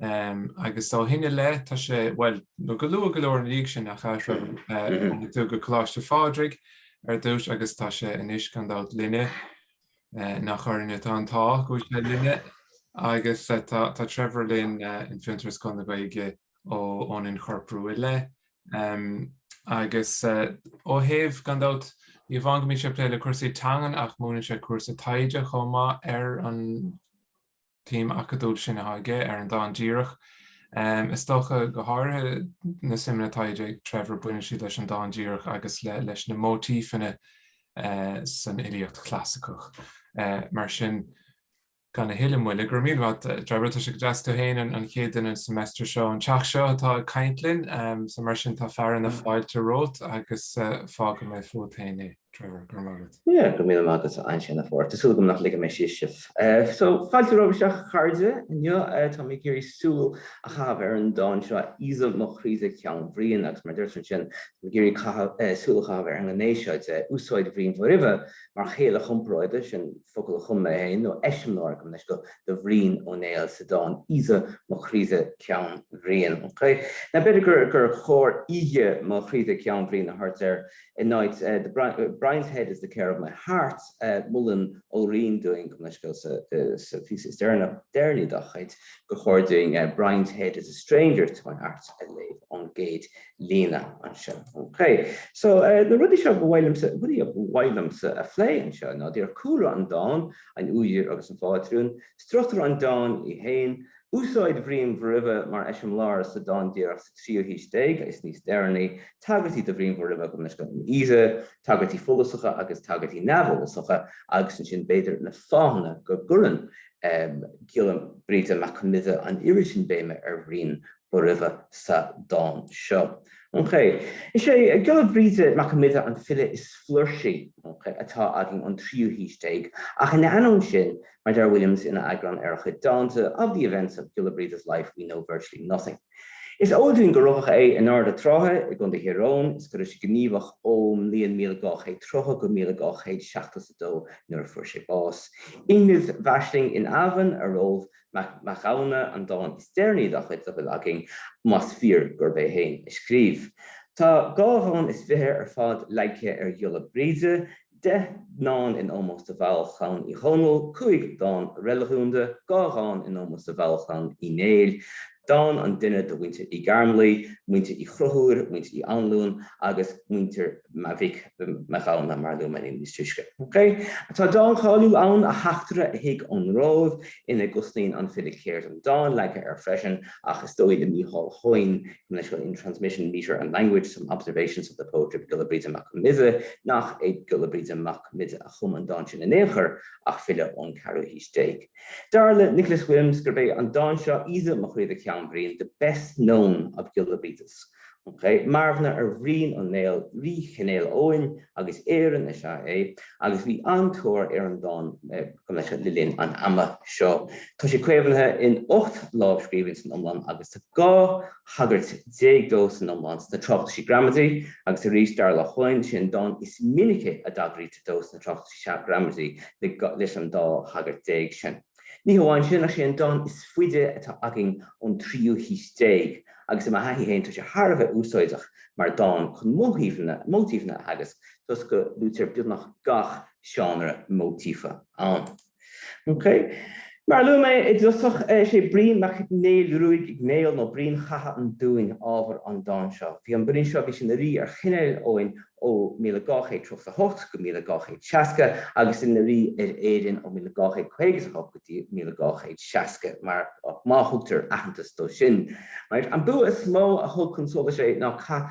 Agus ó shin i leith tá sé, bhuel, nó go luath go leor ina dhiaidh sin nach ea, Trevor, tháinig tú go Coláiste Phádraig ar dtús agus tá sé anois gan dabht linne, nach orainn atá an t-ádh go bhfuil sé linne, agus tá Trevor linn in Fiontar is Scoil na Gaeilge ón inchorprú i leith. Agus ó thaobh, gan dabht, ní amháin go mbíonn sé ag plé le cúrsaí teangan ach múineann sé cúrsa taighde chomh maith ar an. tsuim acadúil sin atá aige ar an dán díreach. Is dócha, go háirithe, na suimeanna atá ag Trevor, baineann siad leis an dán díreach agus leis na móitífeanna san fhilíocht chlasaiceach. Mar sin, gan a thuilleadh moille, go raibh míle maith agat, Trevor, tá sé go deas tú féin an chéad duine an semester seo, an teach seo atá ag caint linn, so mar sin tá fearadh na fáilte romhat agus fágfaidh mé fút féin é. Trevor, go raibh maith agat. Yeah, go raibh míle maith agat ansin, a Phádraig. Tá súil agam nach ligfidh mé síos sibh. So, fáilte romhaibh isteach, a chairde, inniu. Tá mé ag iarraidh súil a chaitheamh ar an dán seo, Aoidhe mo chroidhe ceann Briain, agus mar deirtear ansin, tá mé ag iarraidh caitheamh, súil a chaitheamh ar an ngné seo de úsáid Bhriain Bhóroimhe mar chéile chomparáide, sin focal a chum mé féin, nó eiseamláir gabh mo leithscéal, do Bhrian Ó Néill sa dán Aoidhe mo chroidhe ceann Briain. Ok. Now, b'fhéidir gur chóir Aoighe mo chroidhe ceann Briain a thabhairt air In áit Brian's head is the care of my heart, molann Ó Riain dúinn gabh mo leithscéal, sa phíosa is deireanaí dá chuid gur chóir dúinn Brian's head is a stranger to my heart a léamh ón gcéad líne anseo. OK. So, na rudaí seo, rudaí a ba mhaith liomsa a phlé anseo ná, díreach cúlra an dáin, an údar agus an phátrún, struchtúr an dáin í féin, Úsáid Bhriain Bhóroimhe mar eiseamláir sa dán díreach sa tríú haois déag is níos deireanaí, tagairtí do Bhrian Bhóroimhe, gabh mo leithscéal, in Aoidhe, tagairtí follasacha agus tagairtí neamhfhollasacha, agus ansin b'fhéidir na fáthanna go gcuireann Giolla Brighde Mac Con Midhe an oiread sin béime ar Bhrian Bhóroimhe sa dán seo. Is é Giolla Brighde Mac Con Midhe an file is flúirsí atá againn ón tríú haois déag, ach ina ainneoin sin, Mar a deir Williams ina eagrán ar a chuid dánta, Of the events of Giolla Brighde's life we know virtually nothing. Is eol dúinn gur rugadh é in Ard Sratha i gContae Thír Eoghain is go raibh sé gníomhach ón mbliain 1230 go 1272 nuair a fuair sé bás. Iongnadh m'aisling in Eamhain, ar Roalbh Mac Mathghamhna an dán is deireanaí dá chuid, dá bhfuil againn, más fíor gurb é féin a scríobh. Tá dhá dhán is fiche ar fad leagtha ar Ghiolla Brighde, 10 dán in ómós do bhaill Chlann Uí Dhónaill, 5 dán reiligiúnda, 2 dhán in ómós do bhaill Chlann Uí Néill, dán an duine do mhuintir Uí Ghairmleadhaigh, muintir Uí Chonchúir, muintir Uí Anluain agus muintir Mhic Mhathghamhna, mar a luaigh mé níos túisce. Ok. Tá dán cáiliúil ann, A Theachtaire a Thig ón Róimh, ina gcosnaíonn an file ceird an dáin leagtha air freisin, ach is dóigh le Mícheál Hoyne Initial in transmission, metre and language, some observations of the poetry of Giolla Bríde Mac Con Midhe, nach é Giolla Bríde Mac Con Midhe a chum an dán sin in aon chor ach file ón ceathrú haois déag. Dar le Nicholas Williams gurb é an dán seo, Aoidhe mo chroidhe ceann Briain, the best known of Giolla Bríde's. OK. Marbhna ar Bhrian Ó Néill, rí Chinéil Eoghain agus Éireann, is ea é agus bhí an-tóir ar an dán Ghaeilge le linn an ama seo. Tá sé caomhnaithe in ocht lámhscríbhinn san iomlán agus tá 12 thagairt dó san iomlán sna Tráchtaisí Gramadaí agus arís, dar le Hoyne, is é an dán is minice a dtagraítear dó sna Tráchtaisí Gramadaí leis an dá thagairt déag sin. Ní hamháin sin ach is é an dán is faide atá againn ón tríú haois déag agus i mo thaithí féin tá sé thar a bheith úsáideach mar dhán chun móitífeanna a theagasc toisc go luaitear beagnach gach seánra móitífe ann. OK. Mar a luaigh mé i dtosach, is é Brian Mac Néill Ruaidh Ó Néill nó Brian Chatha an Dúin ábhar an dáin seo. Bhí an Brian seo, bhí sé ina rí ar Chineál Eoghain ó 1238 go 1260 agus ina rí ar Éirinn ó 1258 go dtí 1260 mar má thugtar aitheantas dó sin. An bua is mó a thug chun solais é ná cath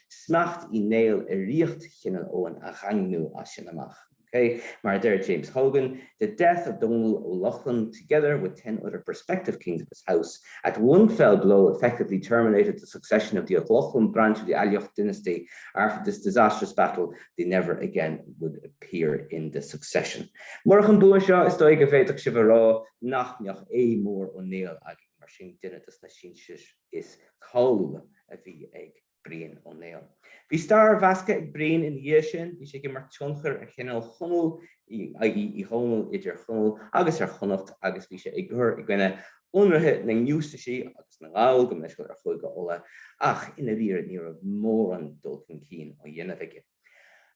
smacht Uí Néill i ríocht Chineál Eoghain a dhaingniú as sin amach. OK. Mar a deir James Hogan, 'The death of Domhnall Ó Lochlainn, together with ten other prospective kings of his house, at one fell blow effectively terminated the succession of the Ó Lochlainn branch of the Aileach dynasty, after this disastrous battle they never again would appear in the succession'. Murach an bua seo, is dóigh go bhféadfadh sibh a rá nach mbeadh Aodh Mór Ó Néill againn, mar sin duine dos na sinsir. is cáiliúla a bhí ag Brian Ó Néill. Bhí stair mheasctha ag Brian ina dhiaidh sin, bhí sé ag imirt tionchair ar Chineál Chonaill, i.e. Uí Dhónaill i dTír Chonaill agus ar Chonnacht, agus bhí sé ag cur i gcoinne ionraithe na ngiústaisí agus na nGall go Muinseo ar Chúige Uladh, ach i ndáiríre ní raibh mórán dul chun cinn á dhéanamh aige.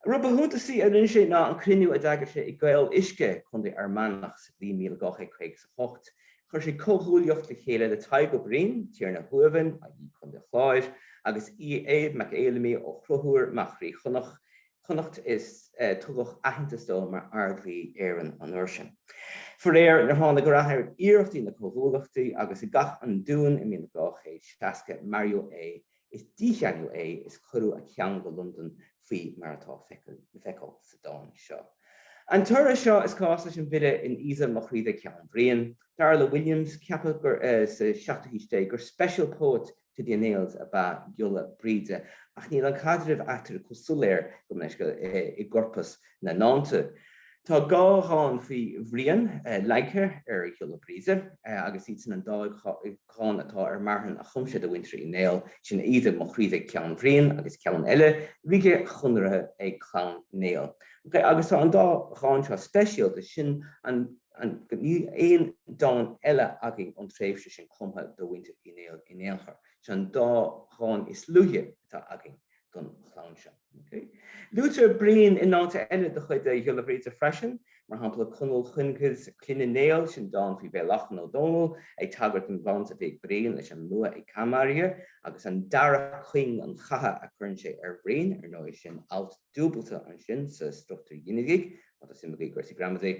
rud ba shuntasaí a rinne sé ná an cruinniú a d'eagair sé i gCaol Uisce, Contae Fhear Manach, sa bhliain míle dhá chéad caoga is a hocht. Chuir sé comhghuaillíocht le chéile le Tadhg Ó Briain, Tiarna Thuamhan, i gContae an Chláir, agus Aodh Mac Fheidhlimí Ó Conchúir, mac Rí Chonnacht, Connacht, is tugadh aitheantas dó mar Ard-Rí Éireann an uair sin. Faraor níor tháinig rath ar iarrachtaí na comhghuaillíochta, agus i gCath an Dúin i míle dhá chéad seasca maraíodh é Is dícheannadh é is cuireadh a cheann go Londain faoi mar atá le feiceáil sa dán seo. An toradh seo is cás leis an bhfile in 'Aoidhe mo chroidhe ceann Bhriain'. Dar le Williams, ceapadh sa seachtú haois déag gur 'special poet to the O'Neills' ab ea Giolla Bríde ach níl an caidreamh eatarthu chomh soiléir gabh mo leithscéal, i gcorpas na ndánta. Tá dhá dhán faoi Bhrian leagtha ar Ghiolla Bríde agus iad sin an dá dhán atá ar marthain a chum sé do mhuintir Uí Néill, sin Aoidhe mo chroidhe ceann Bhriain agus ceann eile, ríge chonartha ag Clann Néill. Ok, agus tá an dá dhán seo speisialta, sin an go níl aon dán eile againn ón tréimhse sin cumtha do mhuintir Uí Néill in aon chor. Sin an dá dhán is luaithe atá againn don chlann seo. Luaitear Brian i ndánta eile de chuid Ghiolla Bhríde freisin, mar shampla, 'Conall Cuingidh Cloinne Néill', sin dán faoi Mhaoileachlainn Ó Dónaill ag tagairt don bhaint a bhí ag Brian leis an mbua ag Caimeirge, agus an dara cuing an chatha a chuireann sé ar Bhrian, ar ndóigh, sin alt dúbailte ansin sa struchtúr ghinidigh, Tá suim aige i gcúrsaí gramadaí.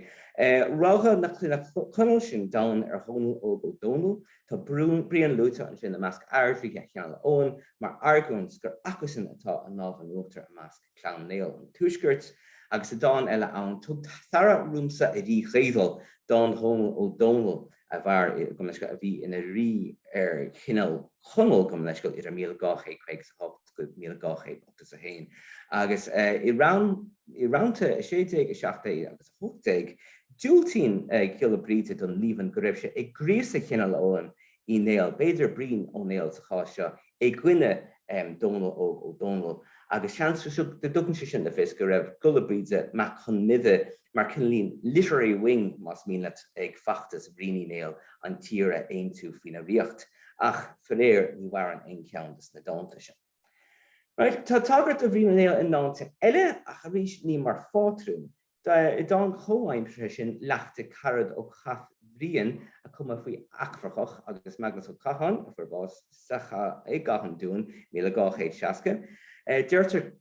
Rogha na Cloinne Conall, sin dán ar Dhónall Óg Ó Domhnaill. Tá Brian luaite ansin i measc airdríthe Chineál Eoghain, mar argóint gur acusan atá an lámh in uachtar i measc Clann Néill an Tuaiscirt, agus i ndán eile ann, Tug t'aire riomsa a rí Gaoidheal, dán Dhónaill Ó Domhnaill a mhair, gabh mo leithscéal, a bhí ina rí ar Chineál Chonaill, gabh mo leithscéal, idir 1250 1281 agus i rannta 16, 17 agus 18, diúltaíonn Giolla Bríde don líomhain go raibh sé ag gríosadh Chineál Eoghain Uí Néill, b'fhéidir Brian Ó Néill sa chás seo, i gcoinne Dhomhnall Óg Ó Dónaill, agus seans go dtugann sé sin le fios go raibh Giolla Bríde Mac Con Midhe mar chineál literary wing, más mian leat, ag feachtas Bhriain Uí Néill an tír a aontú faoina ríocht. ach faraor ní mhaireann aon cheann de na dánta sin. Tá tagairt do Bhrian Uí Néill i ndánta eile ach arís ní mar phátrún. I dán comhaimseartha sin Leacht Carad ó Chath Bhriain a cumadh faoi Eachmharcach agus Maghnus Ó Catháin a fuair bás sa chath i gCath an Dúin, 1260, deirtear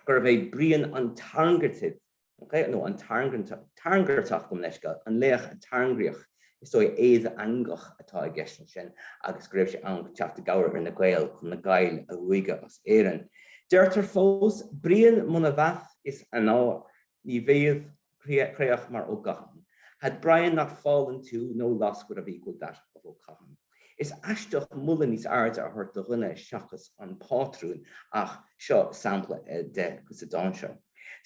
gurbh é Brian an tairngeartaidh. nó an tairngeartach, gabh mo leithscéal, an laoch a tairngríodh, is dóigh, Aodh Eanghach atá i gceist ansin, agus go raibh sé chun teacht i gcabhair ar na Gaeil chun na Gaill a ruaigeadh as Éirinn. Deirtear fós, Brian muna bheath is an ár ní bhiadh creach mar Ó gCathán, had Brian not fallen too, no loss would have equalled that of Ó Catháin. Is aisteach moladh níos airde a thabhairt do dhuine seachas an pátrún ach seo sampla de sa dán seo.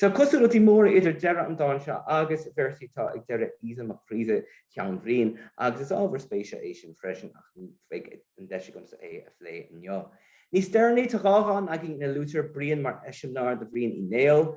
Tá cosúlachtaí móra idir deireadh an dáin seo agus véarsaí atá ag deireadh Aoidhe mo chroidhe ceann Briain agus is ábhar spéise é sin freisin ach ní bheidh an deis agamsa é a phlé inniu. Níos deireanaí tá dhá dhán againn ina luaitear Brian mar eiseamláir do Bhrian Uí Néill.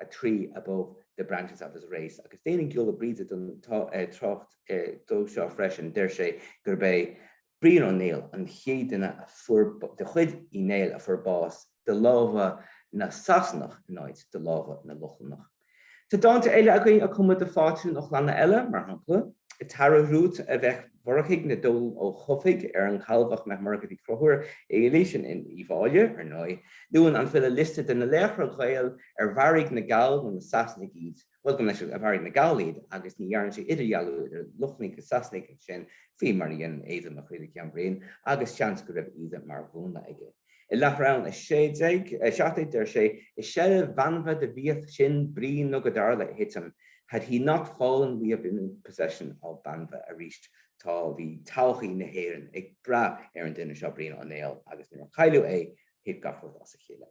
a tree above the branches of his race'. Agus déanann Giolla Bríde den trácht dó seo freisin, deir sé gurb é Brian Ó Néill an chéad duine de chuid Uí Néill a fuair bás de lámha na Sasanach in áit de lámha na Lochlannach. Tá dánta eile againn a cumadh do phátrúin ó chlanna eile, mar shampla, T'aire riot a mheic Mhurchaidh le Dónall Ó Cofaigh ar an Calbhach mac Murchaidh Uí Chonchúir Fhailí, sin Uíbh Fhailí, ar ndóigh. Luann an file liosta de na laochra Gael ar mharaigh na Gaill nó na Sasanaigh iad, bhuel, go minic a mharaigh na Gaill iad agus ní dhéanann sé idirdhealú idir Lochlannaigh agus Sasanaigh ansin, faoi mar a dhéanann Aoidhe mo chroidhe ceann Briain, agus seans go raibh Aoidhe mar mhúnla aige. I Leathrann 16, 17 deir sé, 'I seilbh Banbha do bhíodh sinn, Brian nó go dtarla a thitim, had he not fallen we'd have been in possession of Banbha'. Arís tá bhí todhchaí na hÉireann ag brath ar an duine seo, Brian Ó Néill, agus nuair a cailleadh é thit gach rud as a chéile.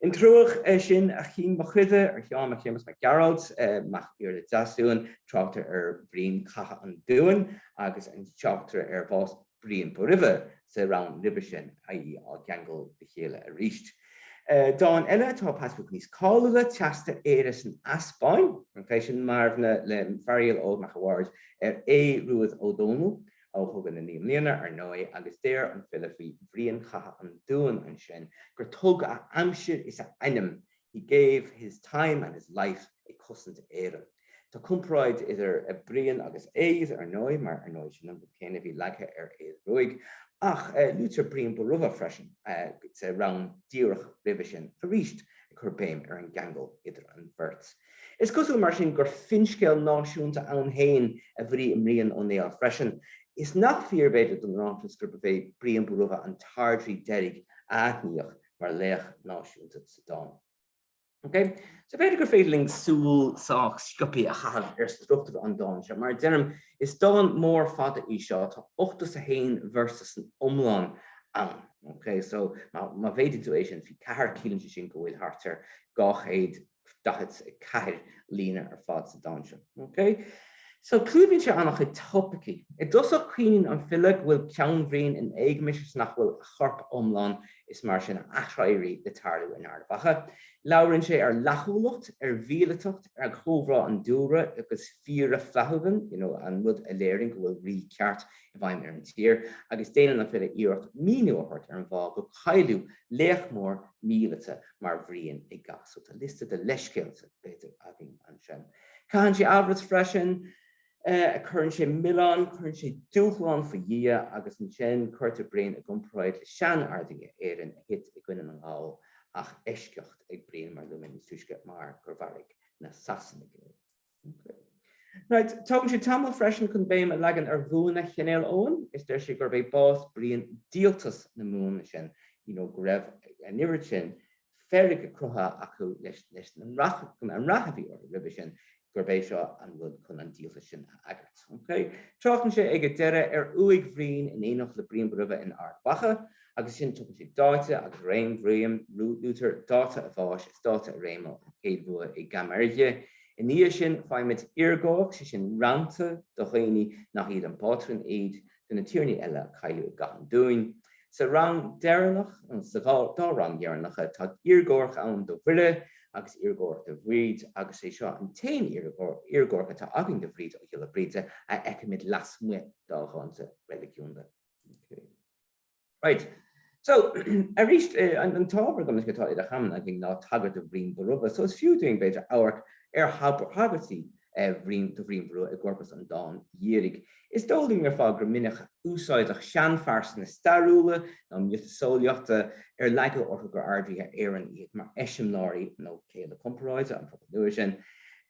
In Truagh sin a chinn mo chroidhe, ar Sheán Mac Séamus Mac Gearailt, mac Iarla Deasmhumhan, tráchtar ar Bhrian 'catha an Dúin' agus tráchtar ar bhás Briain Bóroimhe sa rann roimhe sin, i.e. á gceangal le chéile arís. Dán eile atá pas beag níos cáiliúla, Teasta Éire san Easpáinn, sin marbhna le Fearghal Óg Mac a' Bhaird ar Aodh Ruadh Ó Dónaill ó Chogadh na Naoi mBliana, ar ndóigh, agus deir an file faoi Bhrian Chatha an Dúin ansin gur tug a aimsir is a ainm He gave his time and his life ag cosaint Éireann. Tá comparáid idir Brian agus Aodh, ar ndóigh, mar ar ndóigh sin an rud céanna a bhí leagtha ar Aodh Ruadh, ach luaitear Brian Bóroimhe freisin sa rann díreach roimhe sin arís, ag cur béim ar an gceangal idir an bheirt. Is cosúil mar sin gur finscéal náisiúnta ann féin a bhí i mBrian Ó Néill freisin, is nach fíor, b'fhéidir, don ráiteas gurb é Brian Bóroimhe an t-ardrí deiridh a aithníodh mar laoch náisiúnta sa dán. Ok. So b'fhéidir gur féidir linn súil sách sciopthaí a chaitheamh ar struchtúr an dáin seo. Mar a deirim, is dán mór fada í seo, tá 81 véarsa san iomlán ann. Ok. So má mhéadaíonn tú é sin faoi ceathair, ciallaíonn sé sin go bhfuil thart ar 200 44 líne ar fad sa dán seo. Clúdaíonn sé an-chuid topaicí. I dtosach caoineann an file go bhfuil ceann Bhriain in éagmais is nach bhfuil a chorp iomlán is mar sin a aiséirí le tarlú in Ard Mhacha. Labhraíonn sé ar fhlaithiúlacht, ar mhíleatacht, ar chomhbhá an dúlra agus fír flathemon, an rud a léiríonn go bhfuil rí ceart i bhfeidhm ar an tír, agus déanann an file iarracht míniú a thabhairt ar an bhfáth gur cailleadh laoch mór míleata. mar Bhrian i gcath. So, tá liosta de leithscéalta, b'fhéidir, againn ansin. Caitheann sé amhras freisin, cuireann sé milleán, cuireann sé dúshlán faoi Dhia agus ansin cuirtear Brian i gcomparáid le sean-Ardríthe Éireann a thit i gcoinne na nGall ach eisceacht ag Brian mar a luaigh mé níos túisce mar gur mharaigh na Sasanaigh é. Right. Tógann sé tamall freisin chun béim a leagan ar bhuanna Chinéal Eoghain is deir sé gurb é bás Brian díoltas na mbuanna sin, you know, go raibh an oiread sin feirge cruthaithe acu leis an rath a bhí orthu roimhe sin, gurb é seo an rud chun an díoltas sin a agairt. Okay. Tráchtann sé ag an deireadh ar uaigh Bhriain in éineacht le Brian Bóroimhe in Ard Mhacha. agus ansin tugann sé dáta agus réim Bhriain. Luaitear dáta a bháis is dáta a réime, an chéad bhua i gCaimeirge. I ndiaidh sin faighimid iargomharc, sé sin rannta do dhaoine nach iad an pátrún iad de na tiarnaí eile a cailleadh i gCath an Dúin. Sa rann deireanach, nó sa dá rann dheireanacha, tá iargomharc ann do Mhuire agus iargomharc do Bhríd agus sé seo an t-aon iargomharc atá againn do Bhríd ó Ghiolla Bríde a fheicimid lasmuigh dá dhánta reiligiúnda. Right. So, arís, an t-ábhar agamsa atá idir chamáin againn ná tagairt do Bhrian Bóramha, so is fiú dúinn, b'fhéidir, amharc ar thagairtí do Bhrian Bóramha i gcorpas an dáin dhírigh. Is eol dúinn ar fad gur minic úsáideadh seanphearsana stairiúla nó miotaseolaíochta ar leagadh orthu gur Ardríthe Éireann iad mar eiseamláirí nó céile comparáide an phobail nua sin.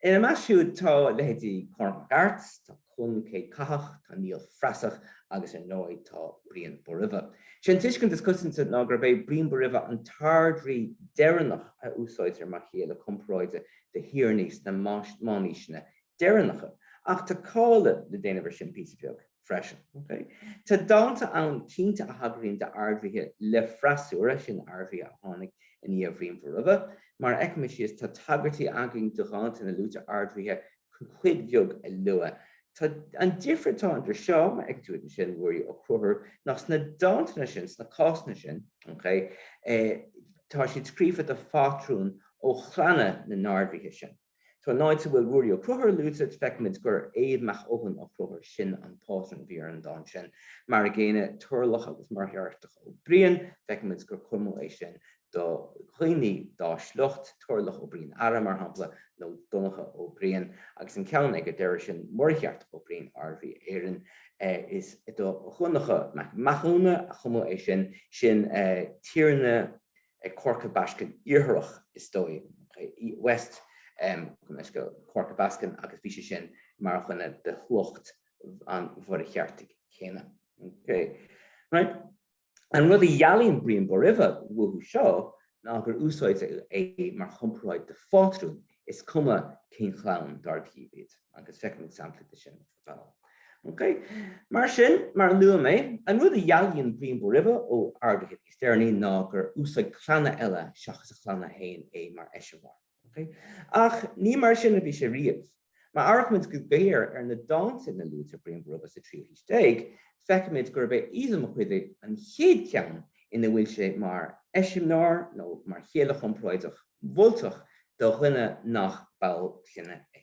Ina measc siúd tá leithéidí Cormac mac Airt, tá. Conn Céadchathach, tá Niall Frasach agus ar ndóigh tá Brian Bóroimhe. Sé an tuiscint is coitianta ná gurb é Brian Bóroimhe an tArd-Rí deireanach a úsáidtear mar chéile comparáide do thiarnaí sna meánaoiseanna deireanacha, ach tá cáiliú le déanamh ar sin píosa beag freisin. Tá dánta ann cinnte a thagraíonn d'Ard-Ríthe le freasúra, sin Ard-Ríthe a tháinig i ndiaidh Bhriain Bhóroimhe. Mar a fheicfimid thíos, tá tagairtí againn do dhánta ina luaitear Ard-Ríthe cuid bheag a lua. Tá an difear atá idir seo ag tú ansin, Ruairí Ó Conchúir, ach sna dántanna sin, sna cásanna sin, tá siad scríofa do phátrúin ó chlanna na n-ardríthe sin. Tá an áit a bhfuil Ruairí Ó Conchúir luaite, feicimid gur Aodh mac Eoghain Ó Conchúir sin an pátrún a bhí ar an dán sin. Mar a gcéanna, Toirealach agus Muircheartach Ó Briain, feicimid gur cumadh é sin do dhaoine dá sliocht, Toirealach Ó Briain Ara, mar shampla, nó Donncha Ó Briain, agus an ceann ag a deireadh sin, Muircheartach Ó Briain, ardrí Éireann. Is do Dhonncha Mac Mathúna a cumadh é sin, sin tiarna Corca Baiscinn Iartharach, is dóigh, West Corca Baskin, agus bhí sé sin mar dhuine de shliocht an Mhuircheartaigh chéanna. An rud a dhealaíonn Brian Bóroimhe uathu seo ná gur úsáideadh é mar chomparáid do phátrún, is cuma cén chlann dár díobh iad, agus feicfimid samplaí de sin ar ball. Ok. Mar sin, mar a luaigh mé, an rud a dhealaíonn Brian Bóroimhe ó ardríthe níos deireanaí ná gur úsáid clanna eile seachas a chlann féin é mar eiseamláir. Ach ní mar sin a bhí sé riamh. Má amharcaimid go géar ar na dánta ina luaitear Brian Bóroimhe sa tríú haois déag, feicimid gurb é Aoidhe mo Chroidhe an chéad cheann ina bhfuil sé mar eiseamláir nó mar chéile chomparáideach mholtach do dhuine nach ball clainne é.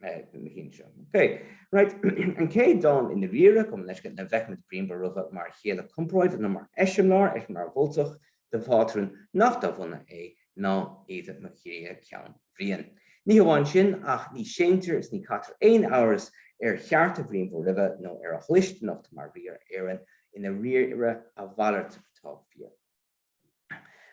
na cinn seo. Ok. Right. An chéad dán i ndáiríre, gabh mo leithscéal, ina bhfeicimid Brian Bóroimhe mar chéile comparáide nó mar eiseamláir, eiseamláir mholtach, do phátrún nach dá bhunadh é, ná Aoidhe mo Chroidhe Ceann Bhriain. Ní hamháin sin, ach ní séantar is ní caithtear aon amhras ar chearta Bhriain Bhóroimhe nó ar a dhlisteanacht mar rí ar Éirinn, i ndáiríre a mhalairt atá fíor.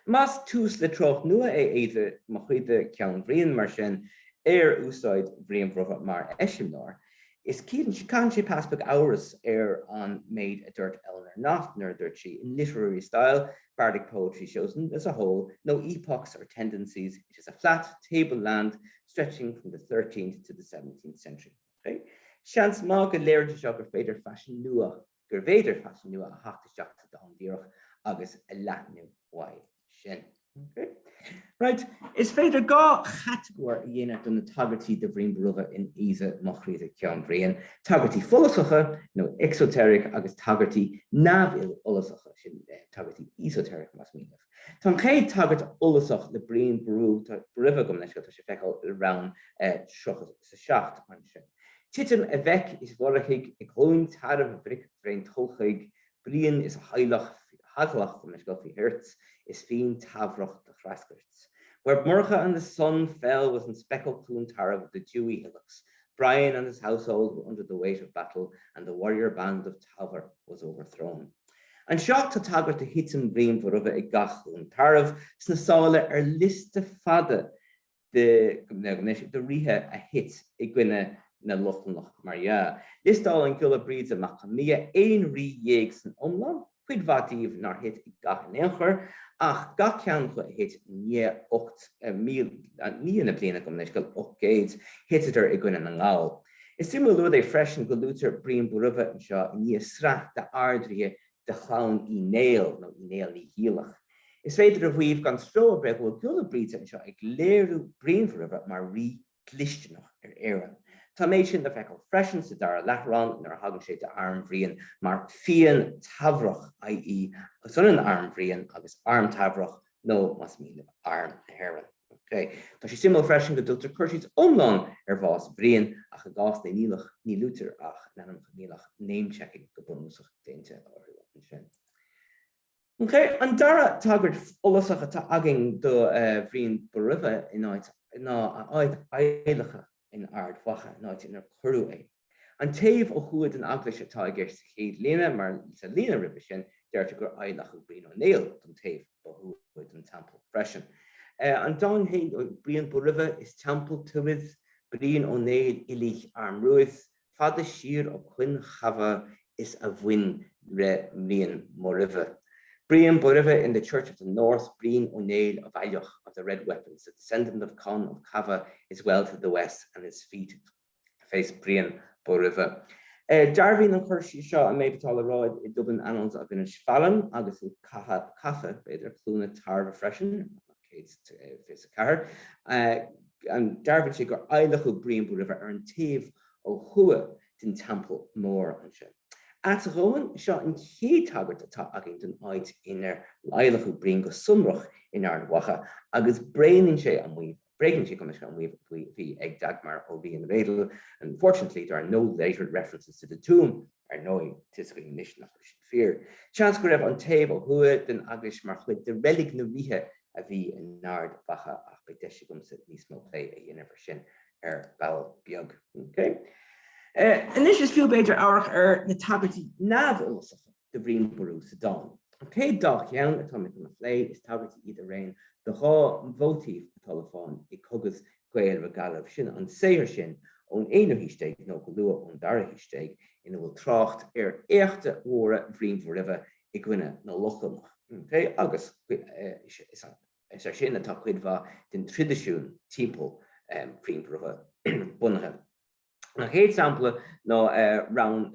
Más tús le treocht nua é Aoidhe mo Chroidhe Ceann Bhriain, mar sin, ar úsáid Bhriain Bhóroimhe mar eiseamláir, is caitheann sé pas beag amhras ar an méid a dúirt Eleanor Knott nuair a dúirt sí, 'In literary style, bardic poetry shows as a whole no epochs or tendencies, it is a flat, table land stretching from the thirteenth to the seventeenth century'. Seans maith go léiríonn sé seo gur féidir faisean nua a. gur féidir faisean nua a theacht isteach sa dán díreach agus a leathnú uaidh sin. Right, is féidir dhá chatagóir a dhéanamh de na tagairtí do Bhrian Bóroimhe in Aoidhe Mo Chroidhe Ceann Bhriain, tagairtí follasacha, nó exoteric, agus tagairtí neamhfhollasacha, sin tagairtí esoteric más mian libh. Tá an chéad tagairt fhollasach le Brian Boru, Bóroimhe, gabh mo leithscéal, tá sé le feiceáil i rann 37 ansin. Titim a mheic is Mhurchaidh i gCluain Tarbh bhric bhraontulchaigh Brian is a theaghlach theaghlach gabh mo leithscéal faoi thuirt is fian Teamhrach do threasgairt or Murchadh and his son fell within speckled Cluain Tarbh of the dewy hillocks Brian and his household were under the weight of battle and the warrior band of Teamhair was overthrown Anseo tá tagairt do thitim Bhriain Bhóroimhe i gCath Chluain Tarbh sna sála ar liosta fada de ghnéis de ríthe a thit i gcoinne na Lochlannach mar dhea. Liostálann Giolla Bríde Mac Con Midhe aon rí dhéag san iomlán, cuid mhaith díobh nár thit i gcath in aon chor, ach gach ceann acu a thit i ndiaidh 8,000, na bliana, gabh mo leithscéal, 800, thiteadar i gcoinne na nGall. Is suimiúil an rud é freisin go luaitear Brian Bóroimhe anseo i ndiaidh sraith d'ardríthe de chlann Uí Néill nó Uí Néill Naoighiallach. Is féidir a mhaíomh gan stró ar bith go bhfuil Giolla Bríde anseo ag léiriú Bhriain Bhóroimhe mar rí dlisteanach ar Éirinn. Tá an méid sin le feiceáil freisin sa dara leathrann nuair a thagraíonn sé d'arm Bhriain mar 'Fian Teamhrach', i.e. is ionann arm Bhriain agus arm Teamhrach, nó más mian libh Arm na hÉireann. OK, tá sé suimiúil freisin go dtugtar cur síos iomlán ar bhás Bhriain, ach i gcás na Niallach ní luaitear ach a n-ainmneacha, níl ach name-checking go bunúsach déanta orthu ansin. OK, an dara tagairt fhollasach atá againn do Bhrian Bóroimhe ná a áit adhlactha in Ard Mhacha, an áit inar cuireadh é. An taobh ó thuaidh den eaglais atá i gceist sa chéad líne mar sa líne roimhe sin deirtear gur adhlacadh Brian Ó Néill don taobh ó thuaidh den Teampall freisin. An dán féin, Brian Bóroimhe is teampall tuaidh, Brian Ó Néill Oiligh armruaidh, fada siar ó Cuinn Chabha is a bhoinn re Brian mBóroimhe. Brian Bóroimhe in The Church of the North, Brian Ó Néill of Aileach, of the Red Weapons, the descendant of Conn of Cabha is well to the west and his feet face Brian Bóroimhe. Dearbhaíonn an cur síos seo an méid atá le rá i Dublin Annals of Inisfallen agus i Cath, Catha, b'fhéidir, Cluana Tarbh freisin, 124. Dearbhaíonn sé gur adhlacadh Brian Bóroimhe ar an taobh ó thuaidh den Teampall Mór ansin. Ach go deimhin, seo an chéad tagairt atá againn don áit inar adhlacadh Brian go sonrach in Ard Mhacha agus bréagnaíonn sé an maíomh, Bréagnaíonn sé go bunúsach an maíomh a bhí ag Dagmar Ó Riain-Raedel, Unfortunately, there are no later references to the tomb. Ar ndóigh, tá a fhios agaibh anois nach bhfuil sin fíor. Seans go raibh an taobh ó thuaidh den eaglais mar chuid de reilig na ríthe a bhí in Ard Mhacha ach beidh deis agamsa níos mó plé a dhéanamh air sin ar ball beag. OK, anois is fiú b'fhéidir amharc ar na tagairtí neamhfhollasacha. do Bhrian Bóraimhe sa dán. An chéad dá cheann atá mé chun a phlé, is tagairtí iad araon do dhá mhóitíf atá le fáil i gCogadh Gael re Gallaibh, sin an saothar sin ón aonú haois déag nó go luath ón dara haois déag ina bhfuil trácht ar éachta mhóra Bhriain Bhóraimhe i gcoinne na Lochlannach, OK, agus is air sin atá cuid mhaith den traidisiún timpeall Bhriain Bhóraimhe bunaithe. An chéad sampla ná Rann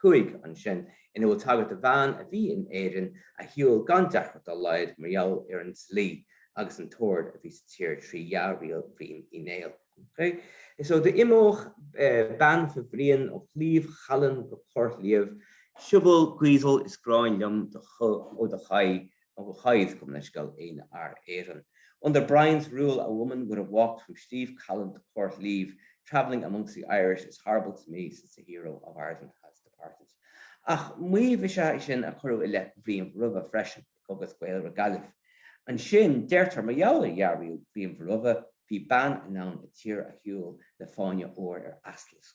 5 ansin, ina bhfuil tagairt do bhean a bhí in Éirinn a shiúil gan deacracht dá laghad mar gheall ar an dlí agus an t-ord a bhí sa tír trí dhea-riail Bhriain Uí Néill. So d'imeodh bean fa Bhrian ó Shliabh Challann go Coirrshliabh. Siubhal Gaoidheal is gráin liom ó do cháidh do cháidh, gabh mo leithscéal, aoinfhear Éireann. Under Brian's rule a woman would have walked from Slieve Callan to Coirrshliabh, travelling amongst the Irish is horrible to me since the hero of Ireland has departed. Ach maíomh is ea é sin a cuireadh i leith Bhriain Bhoraimhe freisin i gCogadh Gael re Gallaibh. Ansin, deirtear, mar gheall ar dhea-riail Bhriain Bhoraimhe, bhí bean in ann an tír a shiúl le fáinne óir ar eachlasc,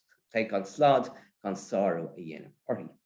gan slad gan sárú a dhéanamh uirthi.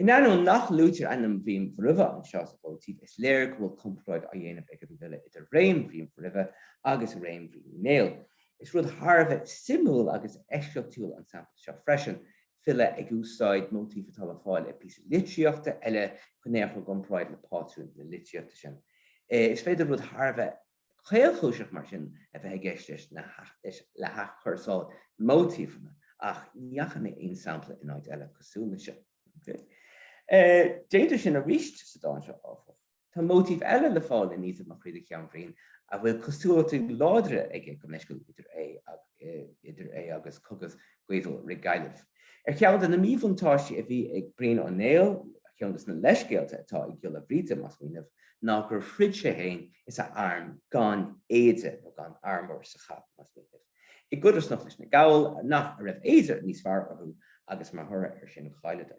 In ainneoin nach luaitear ainm Bhriain Bhoraimhe anseo sa mhóitíf, is léir go bhfuil comparáid á dhéanamh ag an bhfile idir réim Bhriain Bhoraimhe agus réim Bhriain Uí Néill. Is rud thar a bheith suimiúil agus eisceachtúil an sampla seo freisin, file ag úsáid móitíf atá le fáil i bpíosa litríochta eile chun é a chur i gcomparáid le pátrún na litríochta sin. Is féidir rud thar a bheith. caolchúiseach mar sin a bheith i gceist leis le hathchúrsáil móitífeanna ach ní fhaca mé aon sampla in áit eile cosúil leis seo. Déantar sin arís sa dán seo, áfach. Tá móitíf eile le fáil in 'Aoidhe mo chroidhe ceann Briain' a bhfuil cosúlachtaí láidre aige gabh mo leithscéal idir é agus 'Cogadh Gaoidheal re Gallaibh. Ar cheann de na míbhuntáistí a bhí ag Brian Ó Néill, ar cheann de na leithscéalta atá ag Giolla Bríde, más mian libh, ná gur throid sé féin is a arm gan éide nó gan armour sa chath, más mian libh, i gcodarsnacht leis na Gaill, nach, a raibh éide níos fearr orthu agus mar thoradh air sin chailleadar.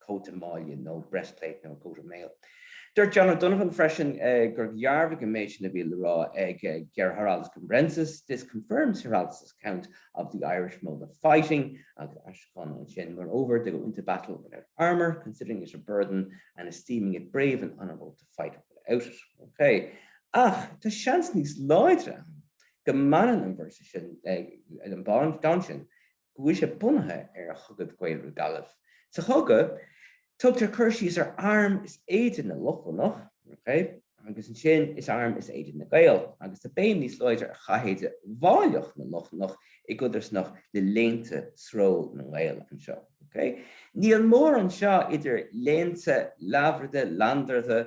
cóta maille nó breastplate nó a coat of mail. Dúirt John O'Donovan freisin gur dhearbhaigh an méid sin a bhí le rá ag Giraldus Cambrensis, this confirms Giraldus's account of the Irish mode of fighting, agus aistriúchán ansin, moreover, they go into battle without armour, considering it a burden and esteeming it brave and honourable to fight without it. Okay. Ach tá seans níos láidre ann go mbaineann an véarsa sin, an dán sin, go bhfuil sé bunaithe ar Chogadh Gael re Gallaibh. Sa Chogadh, tugtar cur síos ar arm is éide na Lochlannach, okay, agus ansin is arm is éide na Gael, agus tá béim níos láidre ar chathéide mháilleach na Lochlannach i gcodarsnacht le léinte sról na nGael anseo. Okay. Níl mórán seo idir léinte leabhra, lainneardha,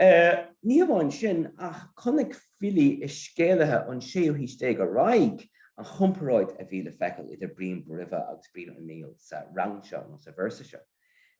Ní hamháin sin, ach chonaic filí is scéalaithe ón séú haois déag ar aghaidh an chomparáid a bhí le feiceáil idir Brian Bóroimhe agus Brian Ó Néill sa rann seo nó sa véarsa seo.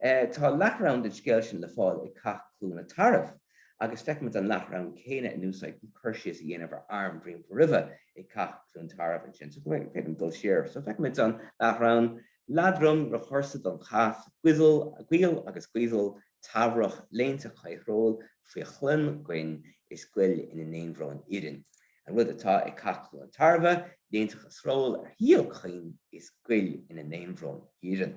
Tá leath-rann den scéal sin le fáil i Cath Cluana Tarbh agus feicimid an leath-rann céanna in úsáid chun cur síos a dhéanamh ar arm Bhriain Bhóroimhe i gCath Chluain Tarbh ansin. So go féidir liom dul siar. So feicimid an leath-rann, Leatrom ro chuirsead an cath, Goill agus Gaoidhil Teamhrach léinte caoilshróill faoi chlann gCoinn is Goill ina n-aonbhróin iarainn, an rud atá i gCath Cluain Tairbhe, léinteacha sróill ar shíol Choinn is Goill ina n-aonbhróin iarainn.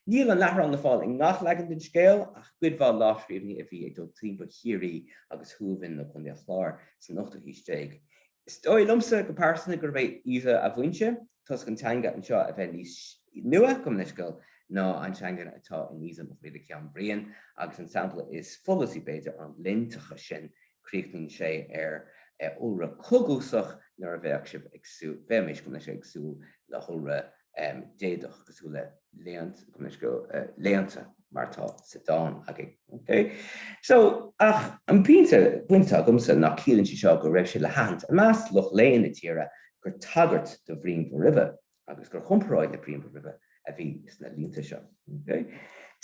Níl an leath-rann le fáil i ngach leagan den scéal ach i gcuid mhaith lámhscríbhinní a bhí ag dul timpeall Chiarraí agus Thuamhan nó Contae an Chláir san ochtú haois déag. Is dóigh liomsa go pearsanta gurb é Aoidhe a bhfoinse, toisc an teanga anseo a bheith níos nua, gabh mo leithscéal, ná an teanga atá in Aoidhe mo chroidhe ceann Briain, agus an sampla is follasaí, b'fhéidir, an léinteacha sin, críochnaíonn sé ar iolra coguasach, nuair a bheadh sibh ag súil, bheadh mise, gabh mo leithscéal, ag súil le hiolra déadach cosúil le léint, gabh mo leithscéal, léinte mar atá sa dán againn. Ok. So, ach an pointe pointe atá agamsa ná ciallaíonn sé seo go raibh sé le haithint i measc lucht léinn na tíre gur tagairt do Bhrian Bóroimhe agus gur chomparáid le Brian Bóroimhe a bhí sna línte seo. Ok.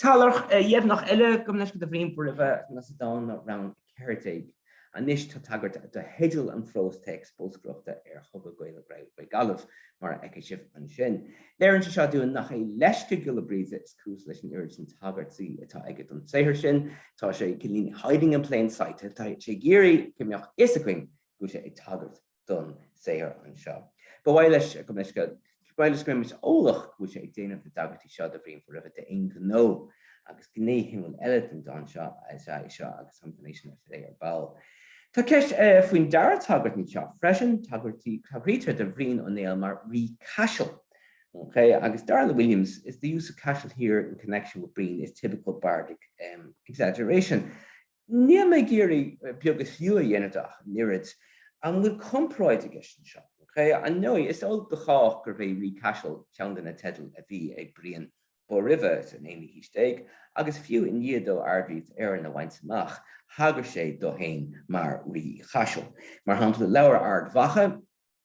Tagairt dheimhneach eile, gabh mo leithscéal, do Bhrian Bóroimhe ná sa dán ná Rann 14. Anois tá tagairt do theideal an phrós téacs bolscaireachta ar Chogadh Gael re Gallaibh, mar a fheicfidh sibh ansin. Léirionn sé seo dúinn nach é leisce Giolla Brighde is cúis leis an oiread sin tagairtí atá aige don saothar sin. Tá sé cineál 'hiding in plain sight', tá sé ag iarraidh go mbeadh a fhios againn go bhfuil sé ag tagairt. don saothar anseo. Ba mhaith leis go mbeimis eolach go bhfuil sé ag déanamh na dtagairtí seo do Bhrian Bóroimhe d'aon ghnó agus gné shuimiúil eile den dán seo is ea é seo agus an ghné sin a phlé ar ball. Tá ceist faoin dara tagairt anseo freisin, tagraítear do Bhrian Ó Néill mar 'rí Caisil', agus dar le Williams, 'the use of Cashel here in connection with Brian is typical bardic exaggeration'. Níl mé ag iarraidh beag is fiú a dhéanamh de ach an oiread. An bhfuil comparáid i gceist anseo? Ar ndóigh, is eol do chách gurbh é Rí Caisil ceann de na teidil a bhí ag Brian Bóroimhe san aonú haois déag agus fiú i ndiaidh dó Ard-Ríocht Éireann a bhaint amach thagair sé dó féin mar Rí Chaisil. Mar shampla, Leabhar Ard Mhacha,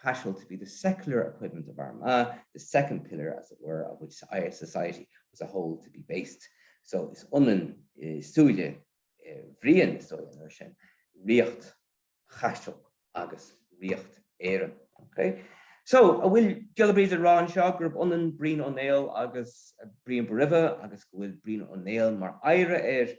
Cashel to be the secular equivalent of Armagh, the second pillar, as it were, on which Irish society was a whole to be based. So is ionann i súile Bhriain is dóigh ansin ríocht Chaisil agus ríocht Éireann. Okay? So an bhfuil Giolla Bríde ag rá anseo gurb ionann Brian Ó Néill agus Brian Bóroimhe agus go bhfuil Brian Ó Néill mar oidhre air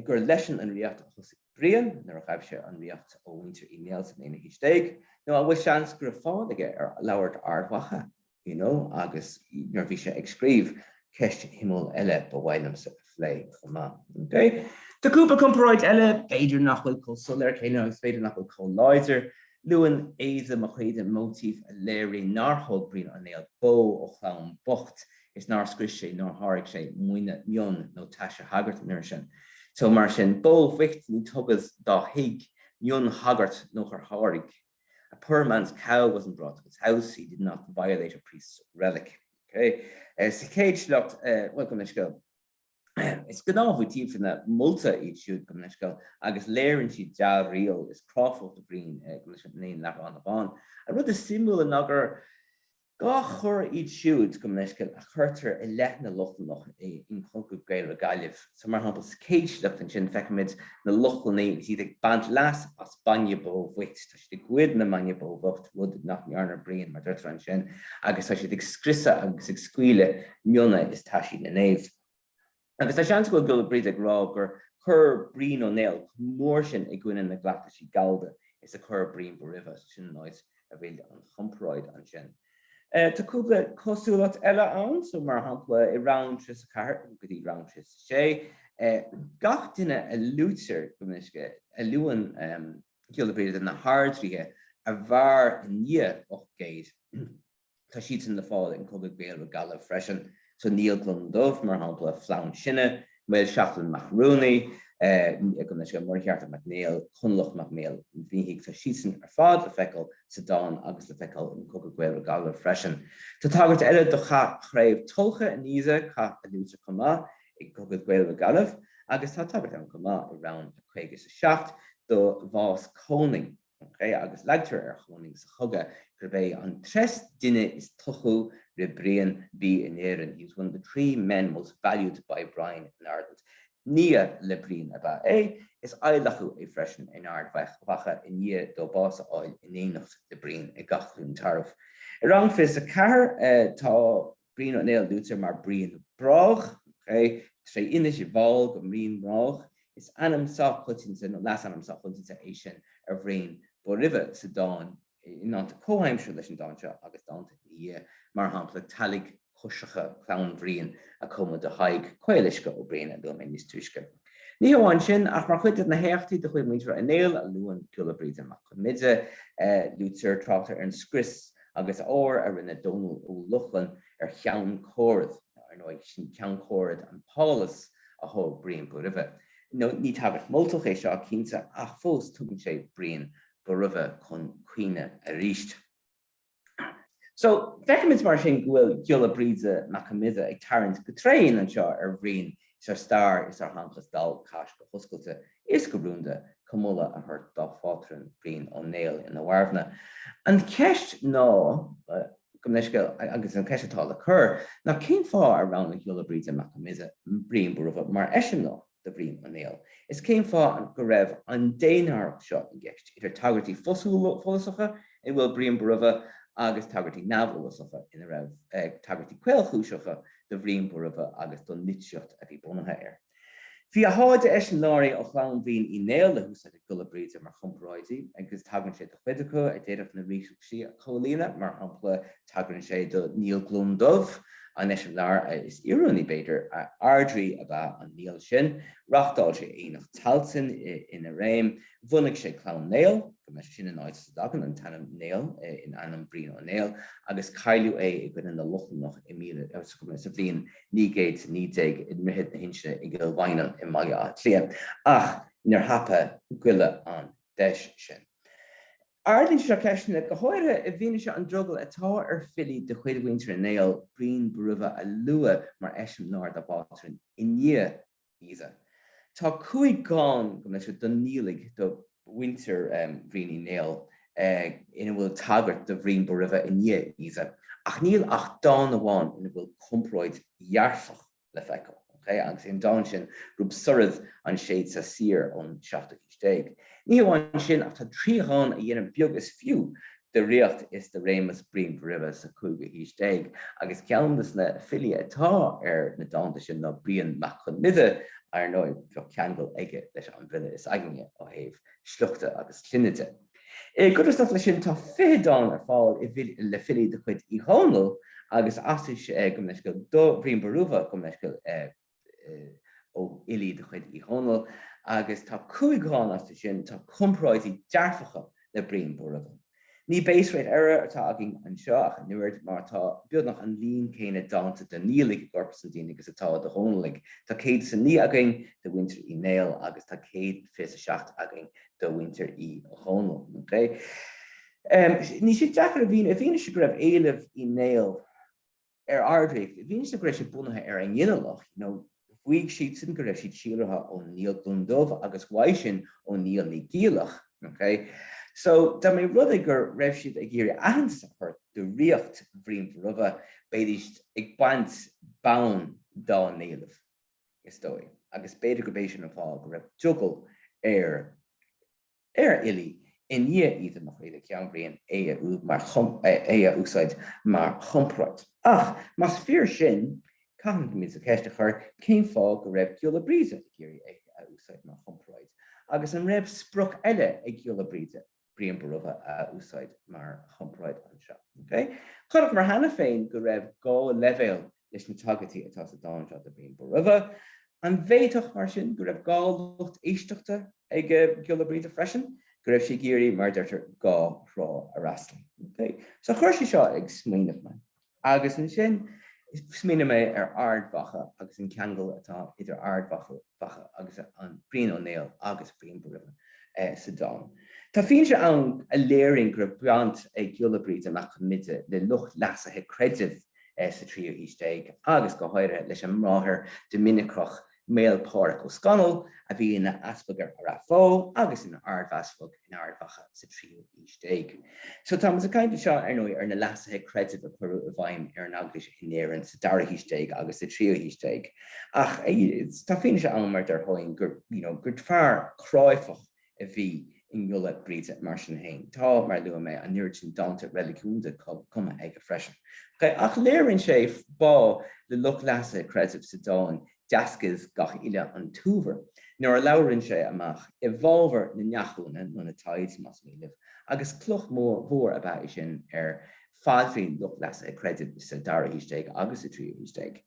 gur leisean an ríocht a thosaigh Brian, nuair a ghabh sé an ríocht ó mhuintir Uí Néill san aonú haois déag, nó an bhfuil seans go raibh fáil aige ar Leabhar Ard Mhacha, you know, agus nuair a bhí sé ag scríobh, ceist shuimiúil eile ba mhaith liomsa a phlé chomh maith. Okay. Tá cúpla comparáid eile, b'fhéidir nach bhfuil chomh soiléir céanna agus b'fhéidir nach bhfuil chomh láidir. Luann Aoidhe mo chroidhe móitíf a léiríonn nár thóg Brian Ó Néill bó ó chlann bocht is nár scrios sé nár sháraigh sé maoin mionn nó taise shagairt an uair sin so mar sin bó bhoicht ní tugadh dá thigh mionn sagairt nochar sháraigh a poor man's cow wasn't brought to his house he did not violate a priest's relic. Sa chéad sliocht, bhuel, gabh mo leithscéal. Is gnáthmhóitífeanna molta iad siúd gabh mo leithscéal agus léiríonn siad dea-riail is cráifeacht Bhriain leis an aon leathrann amháin. An rud is suimiúla ná gur dhá choir iad siúd gabh mo leithscéal a chuirtear i leith na Lochlannach in Cogadh Gaedhel re Gallaibh. So mar shampla sa chéad sliocht ansin feicimid na Lochlannaigh agus iad ag baint leas as bainne bó bhoicht. ag goid an bhainne bó bhocht, rud nach ndearna Brian, mar deirtear ansin, agus tá siad ag scriosadh agus ag scaoileadh mionna is taisí na naomh. Agus tá seans go bhfuil Giolla Bríde ag rá gur chuir Brian Ó Néill chomh mór sin i gcoinne na gcleachtaisí gallda is a chuir Brian Bóroimhe, agus sin an áit a bhfuil an chomparáid ansin. Tá cúpla cosúlacht eile ann, so, mar shampla, i rann 34 go dtí rann 36, gach duine a luaitear gabh mo leithscéal a luann, Giolla Bríde na hArdríthe a mhair i ndiaidh 800, tá siadsan le fáil in Cogadh Gaedhel re Gallaibh freisin, so Niall Glúndubh, mar shampla, Flann Sinna, Mael Seachlainn mac Ruanaí, Muircheartach Mac Néill, Conghalach mac Maoil Mhithigh, tá siadsan ar fad le feiceáil sa dán agus le feiceáil in Cogadh Gaedhel re Gallaibh freisin. Tá tagairt eile do Chath Chraobh Tulcha in Aoidhe, cath a luaitear chomh maith i gCogadh Gaedhel re Gallaibh agus tá tagairt ann chomh maith i rann 57 do bhás Chonaing okay agus leagtar ar Chonaing sa Chogadh gurb é an tres duine is tochu re Brian bí in Éirinn, he was one of the three men most valued by Brian in Ireland. Nia le Brian ab ea é, is adhlacadh é freisin in Ard Mhacha i ndiaidh dó bás a fháil in éineacht le Brian ag Cath Chluain Tarbh. I rann 24 tá Brian Ó Néill, luaitear mar Brian Broghach, tá an fhianaise ar fáil go Brian Broghach, is ainm sách coitianta nó leasainm sách coitianta é sin ar Bhrian Bóroimhe sa dán i ndánta comhaimseartha leis an dán seo agus dánta ina dhiaidh, mar shampla, Teallach coisricthe clann Bhriain a cumadh do Thadhg Caoluisce Ó Briain, a luaigh mé níos túisce. Ní hamháin sin, ach mar chuid de na héachtaí de chuid Mhuintir Uí Néill a luann Giolla Bríde Mac Con Midhe, luaitear, tráchtar ar an scrios agus ár a rinne Dónal Ó Lochlainn ar Cheann Coradh, nó ar ndóigh, sin Ceann Coradh an páláis a thóg Brian Bóroimhe, nó ní tagairt mholtach é seo, cinnte, ach fós tugann sé Brian Bóroimhe chun cuimhne arís. So, feicimid mar sin go bhfuil Giolla Bríde Mac Con Midhe ag tarraingt go tréan anseo ar Bhrian is ar stair is ar sheanchas Dál gCais go hoscailte is go rúnda, chun moladh a thabhairt dá phátrún, Brian Ó Néill, ina mharbhna. An cheist ná, gabh mo leithscéal, agus an cheist atá le cur ná cén fáth ar roghnaigh Giolla Bríde Mac Con Midhe Brian Bóramha mar eiseamláir do Bhrian Ó Néill is cén fáth go raibh an dénárthacht seo i gceist idir tagairtí follasacha ina bhfuil Brian Bóramha agus tagairtí neamhfhollasacha ina raibh tagairtí caolchúiseacha do Bhrian Bóramha agus don litríocht a bhí bunaithe air. Bhí a sháith de eiseamláirí ó chlann Bhriain Uí Néill le húsáid ag Giolla Bríde mar chomparáidí agus tagraíonn sé do chuid acu a d'fhéadfadh na riachtanais a chomhlíonadh, mar shampla, tagraíonn sé do Niall Glúndubh, an eiseamláir is oiriúnaí, b'fhéidir, ardrí ab ea an Niall sin. Reáchtáil sé Aonach Tailteann ina réim. Bhunaigh sé Clann Néill, gurb é sin an áit as a dtagann an t-ainm Néill in ainm Brian Ó Néill, agus cailleadh é i gcoinne na Lochlannach i míle, sa, sa bhliain 919 i nDroichead na hInse i gCill Mhaighneann i mBaile Átha Cliath, ach níor thapaigh Giolla an deis sin. Ardaíonn sé seo ceisteanna, go háirithe i bhfianaise an drogaill atá ar filí de chuid mhuintir Uí Néill, Brian Bóroimhe a lua mar eiseamláir dá bpátrún i ndiaidh é seo. Tá cúig dhán gabh mo leithscéal do Niallaigh do mhuintir Bhriain Uí Néill ina bhfuil tagairt do Bhrian Bóroimhe i ndiaidh é seo, ach níl ach dán amháin ina bhfuil comparáid dhearfach le feiceáil, agus é an dán sin Rob soraidh an séad-sa soir ón seachtú haois. déag. Ní hamháin sin ach tá trí dhán a dhéanann beag is fiú de ríocht is de réimeas Briain Bhóraimhe sa chúigiú haois déag agus ceann de na filí atá ar na dánta sin ná Brian mac Con Midhe. Ar ndóigh, bheadh ceangal aige leis an bhfile is againne ó thaobh sliochta agus clainne de. I gcodarsnacht leis sin, tá fiche dán ar fáil le filí de chuid Uí Dhónaill agus Ashe, gabh mo leithscéal do Bhrian Bórumha, Go mba leisciúil do. ó fhilí de chuid Uí Dhónaill agus tá cúig dhán astu sin atá comparáidí dearfacha le Brian Bóramha. Ní base-rate error atá againn anseo ach an oiread mar tá beagnach an líon céanna dánta de Niallaigh i gcorpas an dána agus atá de Dhónallaigh, tá 109 againn de mhuintir Uí Néill agus tá 127 againn de mhuintir Uí Dhónaill, OK. Níl sé deacair a mhíniú i bhfianaise go raibh éileamh Uí Néill. ar ardríocht i bhfianaise go raibh siad bunaithe ar a nginealach nó mhaígh siadsan go raibh siad síolraithe ó Niall Glúndubh agus uaidh sin ó Niall Naoighiallach, OK? So, dá mba rud é go raibh siad ag iarraidh aitheantas a thabhairt do ríocht Bhriain Bhóramha, bheidís ag baint bonn dá n-éileamh, is dóigh, agus b'fhéidir gurb é sin an fáth go raibh drogall ar. ar fhilí i ndiaidh Aoidhe mo chroidhe ceann Briain é a úd mar chum, é a úsáid mar chomparáid. Ach más fíor sin, caithfimid an cheist a chur cén fáth go raibh Giolla Bríde ag iarraidh é a úsáid mar chomparáid agus an raibh sprioc eile ag Giolla Bríde Brian Bóramha a úsáid mar chomparáid anseo. Chonaiceamar cheana féin go raibh dhá leibhéal leis na tagairtí atá sa dán seo do Bhrian Bóroimhe. An bhféadfadh, mar sin, go raibh dhá lucht éisteachta ag Giolla Brighde freisin, go raibh sé ag iarraidh, mar a deirtear, dhá thrá a fhreastal? So chuir sé seo ag smaoineamh mé, agus ansin smaoinigh mé ar Ard Mhacha agus an ceangal atá idir Ard Mhacha, Mhacha agus an Brian Ó Néill agus Brian Bóramha sa dán. Tá fianaise ann a léiríonn go raibh baint ag Giolla Bríde Mac Con Midhe le lucht leasaithe creidimh sa tríú haois déag agus go háirithe leis an mbráthair Doiminiceach Maol Pádraig Ó Scannail a bhí ina easpag ar Ráth Bhoth agus ina ardeaspag in Ard Mhacha sa tríú haois déag. So táimid ag caint anseo, ar ndóigh, ar na leasuithe creidimh a cuireadh i bhfeidhm ar an Eaglais in Éirinn sa dara haois déag agus sa tríú haois déag. Ach tá fianaise ann, mar a deir Hoyne, gur, you know, gur fear cráifeach a bhí i nGiolla Bríde mar sin féin. Tá, mar a luaigh mé, an oiread sin dánta reiligiúnda cumtha aige freisin. Ach léiríonn sé bá le lucht leasaithe creidimh sa dán Deasgaidh gach uilc an t-uabhar nuair a labhrann sé amach i bhfábhar na ndeachúna nó na tithes, más mian libh, agus cloch mhór ab ea é sin ar phaidrín lucht leasaithe creidimh sa dara haois déag agus sa tríú haois déag.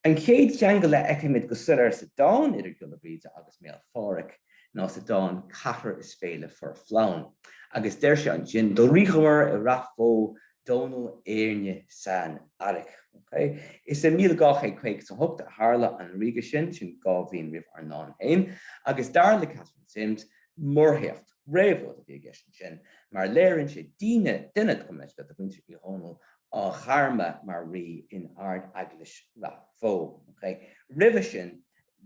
An chéad cheangal a fheicimid go soiléir sa dán idir Giolla Bríde agus Maol Phádhraic ná sa dán Ceathrar is Féile Fuair Flann, agus deir sé ansin. Do ríomhar i Ráth Bhoth Dónall Éirne san Fhairc. Is i 1258 a tharla an ríogadh sin, sin dhá bhliain roimh ár ndán féin, agus dar le Katharine Simms, muirthéacht, réabhlóid a bhí i gceist ansin, mar léiríonn sé daoine, duine gabh mo leithscéal de mhuintir Uí Dhónaill, á gharmadh mar rí in Ard-Eaglais Ráth Bhoth. Roimhe sin,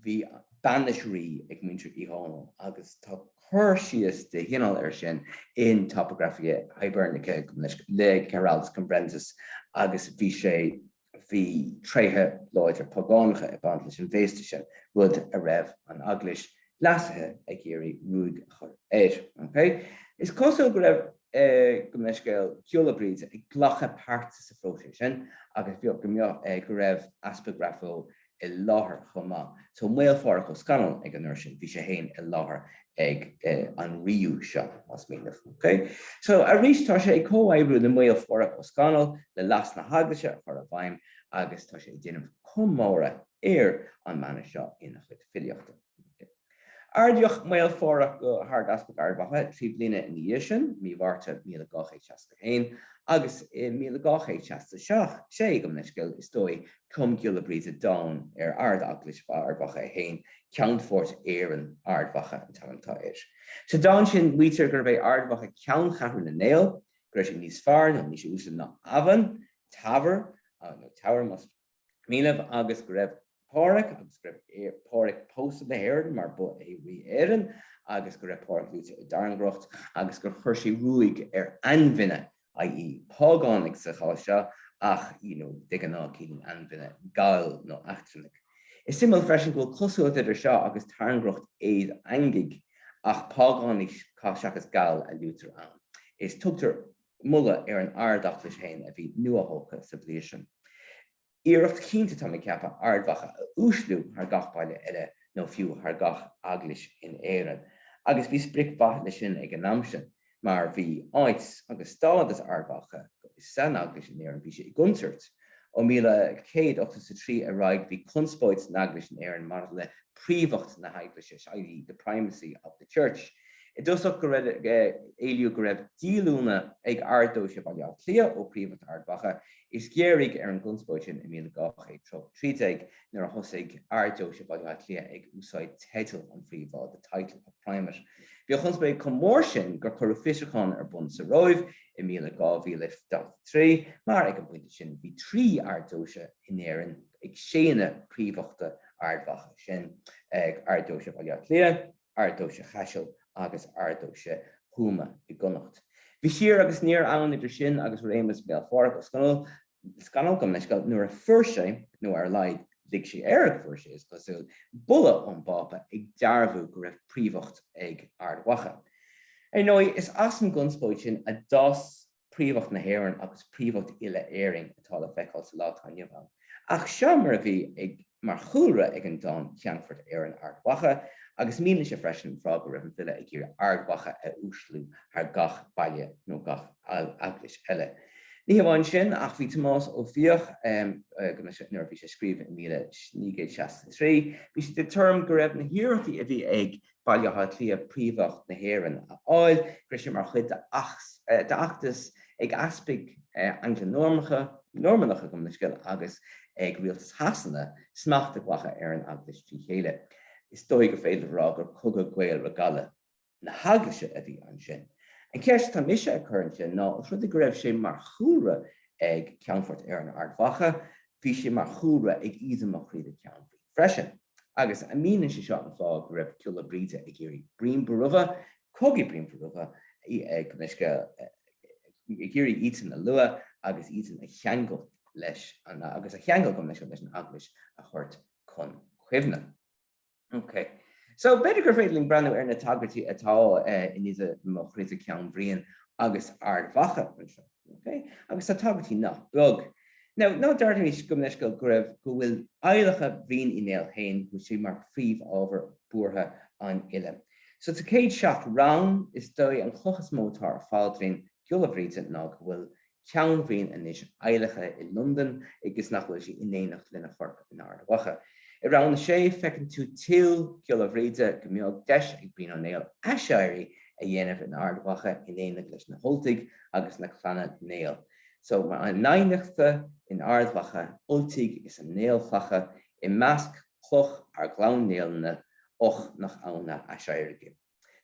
Bhí bainis rí ag muintir Uí Dhónaill agus tá cur síos de chineál air sin in Topographia Hibernica go minic le Giraldus Cambrensis agus bhí sé bhí tréithe láidre págánacha ag baint leis an bhféasta sin, rud a raibh an Eaglais leasaithe ag iarraidh ruaig a chur air. Ok. Is cosúil go raibh gabh mo leithscéal Giolla Bríde ag glacadh páirte sa phróiseas sin agus bheadh go mbeadh go raibh Easpag Ráth Bhoth i láthair chomh maith. So Maol Pháraic Ó Scannail ag an uair sin, bhí sé féin i láthair ag an ríú seo, más mian libh. OK? So arís tá sé ag comhoibriú le Maol Pháraic Ó Scannail le leas na hEaglaise a chur i bhfeidhm agus tá sé ag déanamh comóradh ar an mana seo ina chuid filíochta. Ardaíodh Maol Pháraic go hArdeaspag Ard Mhacha trí bliana ina dhiaidh sin, mí Mhárta 1261, agus i 1267, sé, gabh mo leithscéal, is dóigh, chum Giolla Bríde dán ar Ard-Eaglais Ard Mhacha é féin, Ceannphort Éireann, Ard Mhacha an t-ainm atá air. Sa dán sin maítear gurbh é Ard Mhacha ceanncheathrú na nGael, go raibh sé níos fearr nó níos uaisle ná Eamhain, Teamhair, nó Teamhair más mian libh agus go raibh Pádraig agus go raibh Pádraig pósta le hÉirinn mar ba é Rí Éireann agus go raibh Pádraig luaite i dtairngreacht agus gur chuir sé ruaig ar ainfhine, i.e. págánaigh sa chás seo ach you know de ghnáth ciallaíonn ainfhine Gaill nó eachtrannaigh. Is suimiúil freisin go bhfuil cosúlacht idir seo agus tairngreacht Aodha Eangaigh ach págánaigh seachas Gaill a luaitear ann. Is tugtar. moladh ar an Ard-Eaglais féin a bhí nuathógtha sa bhliain sin. Iarracht chinnte atá mé ag ceapadh Ard-Mhacha a uaisliú thar gach baile eile nó fiú thar gach eaglais in Éirinn agus bhí sprioc mhaith leis sin ag an am sin mar bhí áit agus stádas Ard-Mhacha san eaglais in Éirinn, bhí sé i gcontúirt Ó 1183 ar aghaidh, bhí conspóid san Eaglais in Éirinn maidir le príomhacht na hEaglaise, i.e. the primacy of the Church. I dtosach, éilíodh go raibh díolúine ag Ard-Deoise Bhaile Átha Cliath ó phríomhacht Ard Mhacha, is ghéaraigh ar an gconspóid sin i 1213 nuair a thosaigh Ard-Deoise Bhaile Átha Cliath ag úsáid teideal an Phríomháidh, the title of Primate. Bhí an chonspóid chomh mór sin gur cuireadh fiosrúchán ar bun sa Róimh i. i míle 2043, mar ag an bpointe sin bhí trí Ard-Deoise in Éirinn ag séanadh príomhachta Ard Mhacha, sin ag Ard-Deoise Bhaile Átha Cliath, Ard-Deoise Chaisil agus Ard-Deoise Thuama i gConnacht. Bhí siar agus aniar ann idir sin agus réimeas Mhaol Pháraic Ó Scannail, Scannail, gabh mo leithscéal nuair a fuair sé, nó ar a laghad lig sé air go bhfuair sé, is cosúil, bulla ón bPápa ag dearbhú go raibh príomhacht ag Ard Mhacha. Ar ndóigh, is as an gconspóid sin a d'fhás príomhacht na hÉireann agus príomhacht uile-Éirinn atá le feiceáil sa lá atá inniu ann. Ach seo mar a bhí ag. mar chúlra ag an dán 'Ceannphort Éireann Ard Mhacha' agus míníonn sé freisin an fáth go raibh an file ag iarraidh Ard Mhacha a uaisliú thar gach baile nó gach eaglais eile. Ní hamháin sin ach bhí Tomás Ó Fiaich, nuair a bhí sé ag scríobh i míle naoi gcéad seasca a trí, bhí sé den tuairim go raibh na hiarrachtaí a bhí ag Bhaile Átha Cliath príomhacht na hÉireann a fháil, go raibh sé mar chuid d'fheachtas ag easpaig Angla-Normannacha, Normannacha, gabh mo leithscéal, agus ag rialtas Shasana smacht a ghlacadh ar an eaglais trí chéile. Is dóigh gur féidir a rá gur cogadh Gael re Gallaibh na heaglaise a bhí ansin. An cheist atá mise ag cur ansin ná, os rud é go raibh sé mar chúlra ag Ceannphort Éireann Ard Mhacha, bhí sé mar chúlra ag Aoidhe mo Chroidhe Ceann Briain freisin. agus an míníonn sé seo an fáth go raibh Giolla Bhríde ag iarraidh Brian Bóramha, cogaí Brian Bóramha, ag iarraidh iadsan a lua agus iadsan a cheangal leis agus a cheangal gabh mo leithscéal leis an Eaglais a thabhairt chun cuimhne. Ok. So, b'fhéidir gur féidir linn breathnú ar na tagairtí atá in Aoidhe mo Chroidhe Ceann Briain agus Ard Mhacha anseo. OK, agus tá tagairtí nach beag. Now, ná dearmadaimis, gabh mo leithscéal, go raibh, go bhfuil adhlacadh Bhriain Uí Néill féin, go bhfuil sé mar phríomhábhar buartha an fhile. So sa chéad seacht rann, is dóigh an chloch is mó atá ar phaidrín Ghiolla Bhríde ná go bhfuil ceann Bhriain anois adhlactha i Londain agus nach bhfuil sé in éineacht lena chorp in Ard Mhacha. I rann a sé, feiceann tú dúil Ghiolla Bhríde go mbeadh deis ag Brian Ó Néill aiséirí a dhéanamh in Ard Mhacha in éineacht leis na hUltaigh, agus na Clanna Néill. So mar a n-adhnaicthe in Ard Mhacha Ultaigh is a n-aolchlacha i measc cloch ár gClann Néill-ne, och, nach ann a aiséirghe.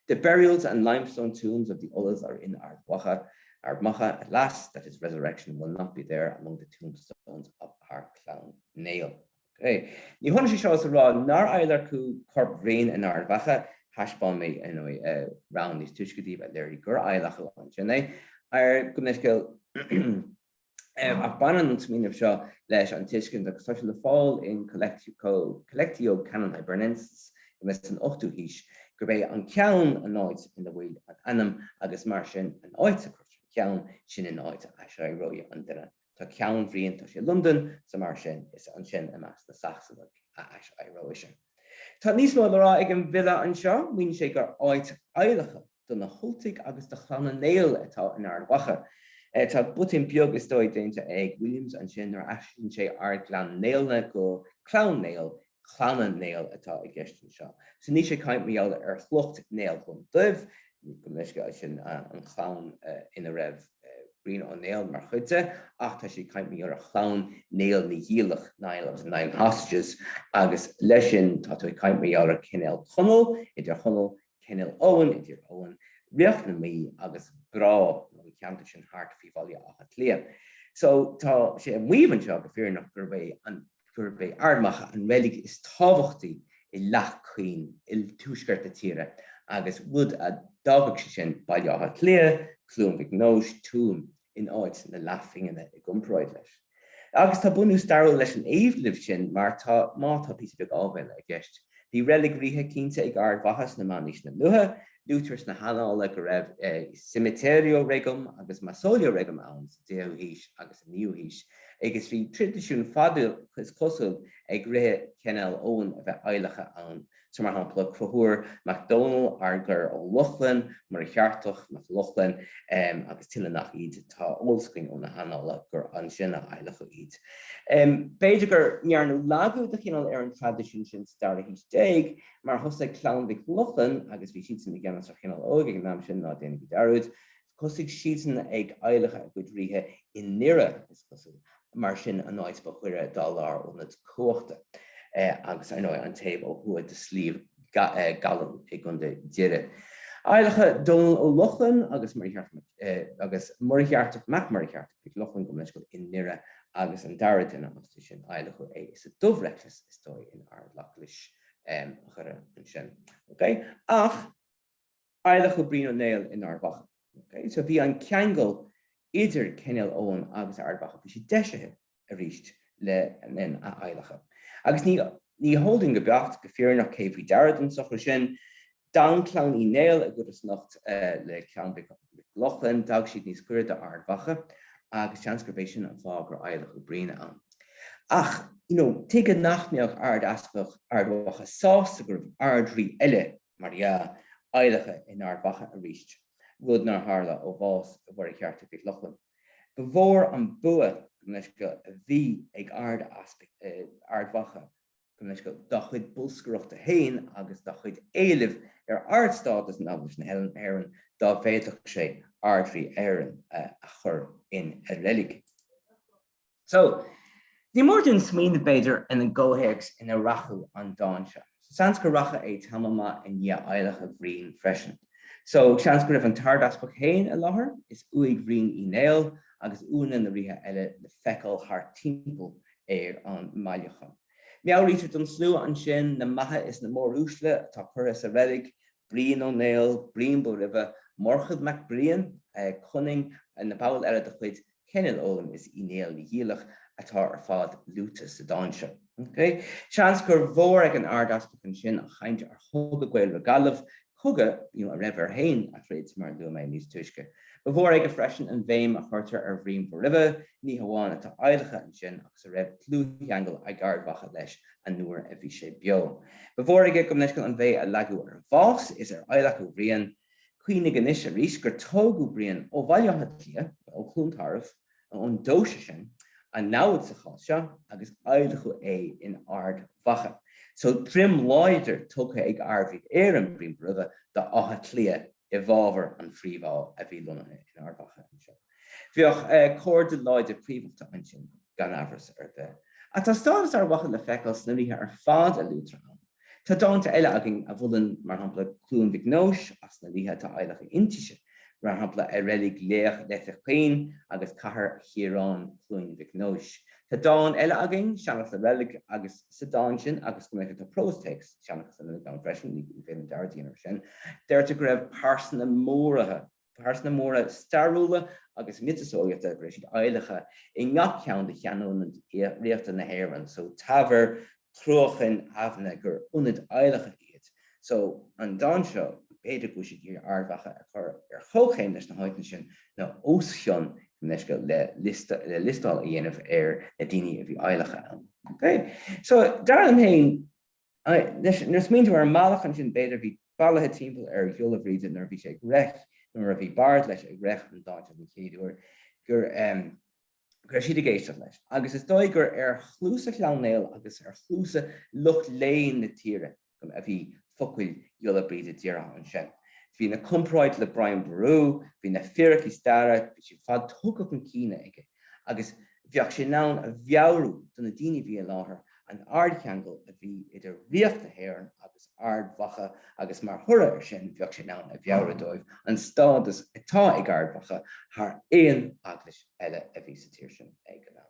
The burials and limestone tombs of the Ulaidh are in Ard Mhacha, Ard Macha, alas, that his resurrection will not be there among the tombstones of our Clann Néill. OK. Ní hionann é seo is a rá nár adhlacadh corp Bhriain in Ard Mhacha, thaispeáin mé, ar ndóigh, rann níos túisce daoibh a léirigh gur adhlacadh ansin é, gabh mo leithscéal, ach baineann an smaoineamh seo leis an tuiscint agus tá sé le fáil in Collectio Canonum Hibernensis i Metz san 8ú haois gurb é an ceann an áit ina bhfuil an t-anam agus mar sin an áit a gcuirtear an ceann sin an áit a aiséireoidh an duine Tá ceann Bhriain tá sé i Londain, so mar sin is ansin i measc na Sacsanach a aiséireoidh sé. Tá níos mó le rá ag an bhfile anseo, maíonn sé gur áit adhlactha do na hUltaigh agus do Chlanna Néill atá in Ard Mhacha. Tá botún beag is dóigh déanta ag Williams ansin nuair a aistríonn sé ár gClann Néill-ne go Clann Néill Clanna Néill atá i gceist anseo. So, níl sé ag caint mar gheall ar shliocht Néill Glúndubh, gabh mo leithscéal, sin an chlann ina raibh Brian Ó Néill mar chuid de, ach tá sé ag caint mar gheall ar chlann Néill Naoighiallach, Niall of the Nine Hostages, agus leis sin tá tú ag caint mar gheall ar Cenél Conaill, i dTír Chonaill, Cenél Eoghain, i dTír Eoghain, ríocht na Mí agus Breá, nó an ceantar sin thart faoi Bhaile Átha Cliath. So tá sé ag maíomh anseo, go fírinneach, gurb é an. gurb é Ard Mhacha an reilig is tábhachtaí i Leath Cuinn i dtuaisceart na tíre agus rud a d'fhágfadh sé sin Baile Átha Cliath, Cluain Mhic Nóis, Tuaim in áit na leathphingine i gcomparáid leis. Agus tá bunús stairiúil leis an éileamh sin mar tá, má tá píosa beag áibhéile i gceist. Bhí reilig ríthe cinnte ag Ard Mhacha sna meánaoiseanna luatha, luaitear sna hannála go raibh cemeterio regum agus mausoleo regum ann, 10ú haois agus an 9ú haois, agus bhí traidisiún fada, is cosúil, ag ríthe Cenél Eoghain a bheith adhlactha ann, so mar shampla Conchúr mac Domhnaill, Ardgar Ó Lochlainn, Muircheartach mac Lochlainn, agus tuilleadh nach iad. Tá eolas againn ó na hannála gur ansin a adhlacadh iad. B'fhéidir go ndearnadh lagú de chineál ar an traidisiún sin sa dara haois déag, mar thosaigh Clann Mhic Lochlainn, agus bhí siadsan i gceannas ar Chinél Eoghain ag an am sin, ná déanaigí dearúd, Thosaigh siadsan ag adhlacadh a gcuid ríthe i nDoire, is cosúil, mar sin, an áit ba ghaire dá lárionad cumhachta agus, ar ndóigh, an taobh ó thuaidh de Shliabh gCallann i gContae Dhoire. Adhlacadh Dónall Ó Lochlainn agus Muircheartach Mac Muircheartaigh Mhic Lochlainn gabh mo leithscéal i nDoire agus an dara duine astu sin, adhlacadh é sa Dubhreigléas, is dóigh, in Ard-Eaglais Dhoire ansin. OK. Ach. adhlacadh Brian Ó Néill in Ard Mhacha. Ok, so bhí an ceangal idir Cenél Eoghain agus Ard Mhacha, bhí sé deisithe arís le linn a adhlactha. Agus ní ní heol dúinn go beacht, go fírinneach, cé faoi deara don socrú sin. D'fhan clann Uí Néill i gcodarsnacht le clann Mhic Lochlainn, d'fhan siad níos goire do Ard Mhacha agus seans gurb é sin an fáth gur adhlacadh Brian ann. Ach, you know, tuige nach mbeadh Ard Easpag Ard Mhacha sásta go raibh Ard Rí eile mar dhea, adhlactha in Ard Mhacha arís, rud nár tharla ó bhás Mhuircheartaigh Mhic Lochlainn. Ba mhór an bua gabh mo leithscéal a bhí ag Ard-Easpag Ard Mhacha gabh mo leithscéal dá chuid bolscaireachta féin agus dá chuid éilimh ar ardstádas in Eaglais na hÉireann dá bhféadfadh sé Ardrí Éireann a chur ina reilig. So, ní mór dúinn smaoineamh, b'fhéidir, ar an gcomhthéacs inar reacadh an dán seo. Seans gur reacadh é tamall maith i ndiaidh adhlacadh Bhriain freisin. So, seans go raibh an tArdeaspag féin i láthair is uaigh Bhriain Uí Néill agus uaigneanna na ríthe eile le feiceáil thart timpeall ar an mbailiúchán. Meabhraítear don slua ansin na maithe is na móruaisle atá curtha sa reilig Brian Ó Néill, Brian Bóroimhe, Murchad Mac Briain, Conaing, na baill eile de chuid Cenél Eoghain is Uí Néill Naoighiallach atá ar fad luaite sa dán seo. Seans gur mhór ag an Ard-Easpag ansin an chaint ar chogadh Gael re Gallaibh, cogadh a raibh air féin a throid mar a luaigh mé níos túisce. Ba mhór aige freisin an bhéim a chuirtear ar Bhrian Bóroimhe, ní hamháin atá adhlactha ansin agus a raibh dlúthcheangal ag Ard Mhacha leis a nuair a bhí sé beo. Ba mhór aige gabh mo leithscéal an bhéim a leagadh ar bhás is ar adhlacadh Bhriain. Cuimhnigh anois arís gur tógadh Brian ó Bhaile Átha Cliath, nó ó Chluain Tarbh, nó ón deoise sin, an namhaid sa chás seo, agus adhlacadh é in Ard Mhacha. So droim láidir tugtha ag Ardrí Éireann Brian Bóroimhe d'Áth Cliath i bhfabhar an phríomháidh a bhí lonnaithe in Ard Mhacha anseo. Bheadh comhartha láidir príomhaíochta ansin, gan amhras ar bith. Ach tá stádas Ard Mhacha le feiceáil sna ríthe ar fad a luaitear ann. Tá dánta eile againn a mholann, mar shampla, Cluain Mhic Nóis agus na ríthe atá adhlactha inti sin, mar shampla, A reilig laoch Leithe Cuinn agus Cathair Chiaráin, Cluain Mhic Nóis. Tá dán eile againn, Seanchas na Reilig, agus sa dán sin, agus gabh mo leithscéal tá próstéacs Seanchas na Reilig ann freisin, ní féidir dearmad a dhéanamh air sin, deirtear go raibh pearsana mór-ríthe, pearsana móra stairiúla agus miotaseolaíochta go raibh siad adhlactha i ngach ceann de cheannionaid ríochta na hÉireann so Teamhair, Cruachan, Eamhna gur ionaid adhlactha iad. So an dán seo, b'fhéidir go bhfuil siad ag iarraidh Ard Mhacha a chur ar chomhchéim leis na háiteanna sin nó os cionn gabh mo leithscéal le le liostáil a dhéanamh ar na daoine a bhí adhlactha ann. So dar liom féin, Anois, nuair a smaointear ar an mbealach sin, an dream, b'fhéidir, bhí bailithe timpeall ar Ghiolla Bhríde nuair a bhí sé ag reic, nó nuair a bhí bard leis ag reic an dáin seo den chéad uair, go raibh siad ag éisteacht leis. Agus is dóigh gur ar chluasa Chlann Néill agus ar chluasa lucht léinn na tíre a bhí focail Ghiolla Bríde dírithe ansin. Bhí na comparáid le Brian Bóramha, bhí na fíricí staire, bhí siad ar fad tugtha chun cinn aige. agus bheadh sé in ann a mheabhrú do na daoine a bhí i láthair an ardcheangal a bhí idir ríogacht na hÉireann agus Ard Mhacha agus mar thoradh air sin bheadh sé in ann a mheabhrú dóibh an stádas atá ag Ard Mhacha thar aon eaglais eile a bhí sa tír sin ag an am.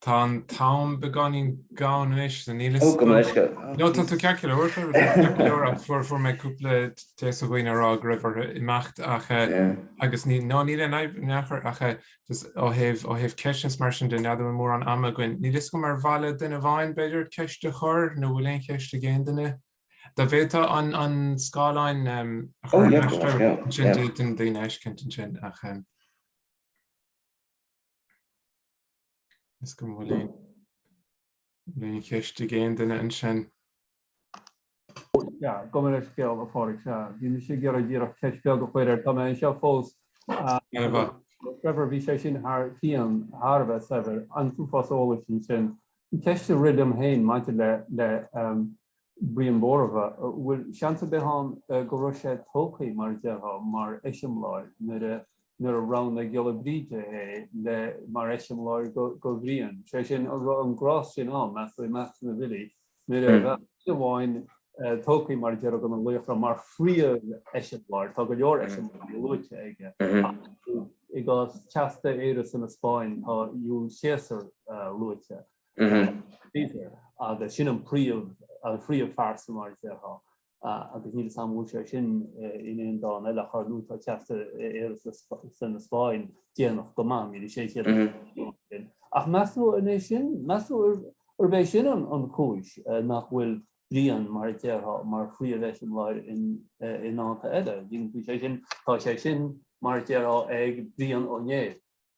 Tá an t-am beagáinín gann anois, so níl 'fhios agam. No, tá tú ceart go leor, tá tú ceart go leor ach fuair, fuair mé cúpla téacs ó dhaoine ag rá go raibh orthu imeacht ach eh, agus ní, no, níl aon fhadhb in aon chor ach eh, just ó thaobh, ó thaobh ceisteanna is mar sin de, n'fheadar an bhfuil mórán ama againn. Níl 'fhios agam ar mhaith le duine amháin b'fhéidir ceist a chur nó an bhfuil aon cheist ag aon duine? Dá bhféadfá an, an scáileáin em, a chur ina, oh yeah, of course, stad, yeah, ansin yeah. d'fhéadfainn daoine a fheiscint ansin ach em, Níl aon, níl aon cheist ag aon duine ansin. Sea, gabh mo leithscéal, a Phádraic. Sea, bhí mise ag iarraidh díreach ceist beag a chur, tá mé anseo fós. Ar mhaith. Trevor, bhí sé sin thar cionn thar a bheith saibhir. An t-uafás eolais ansin? An ceist a rith liom féin maidir le Brian Bóramha, bhfuil seans ar bith ann go raibh sé tógtha, mar a déarfá, mar eiseamláir nuair a nuair a roghnaigh Giolla Bríde é le mar eiseamláir go go Bhrian, sé sin an raibh an gnás sin ann, meas tú, i measc na bhfilí nuair a bheadh duine amháin tógtha, mar a déarfá, de na laochra mar phríomh-eiseamláir, tá go leor eiseamláirí luaite aige ach i gcás Teasta Éire san Easpáinn tá Iúil Céasar luaite. agus sin an príomh an phríomhphearsa mar a déarfá agus níl a fhios agam bhfuil sé sin in aon dán eile ar chor nó tá Teasta Éire san Easpáinn déanach go maith níl 600 ach meas tú arbh é sin meas tú arbh é sin an chúis nach bhfuil Brian mar a déarfá mar phríomh-eiseamláir in in dánta eile bhí sé sin tá sé sin mar a déarfá ag Brian Ó Néill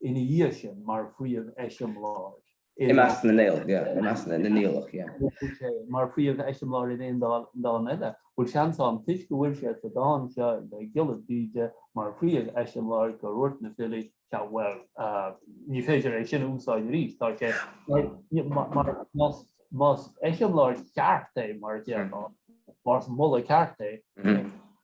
ina dhiaidh sin mar phríomh-eiseamláir i measc na Niallach. mar phríomh-eiseamláir in aon dán eile, bhfuil seans ann, toisc go bhfuil sé sa dán seo le Giolla Bríde mar phríomh-eiseamláir, gur dhúirt na filí, Sea, bhuel, ní féidir é sin a úsáid arís, tá sé mar nós. más eiseamláir ceart é, mar a deir Anna, más moladh ceart é,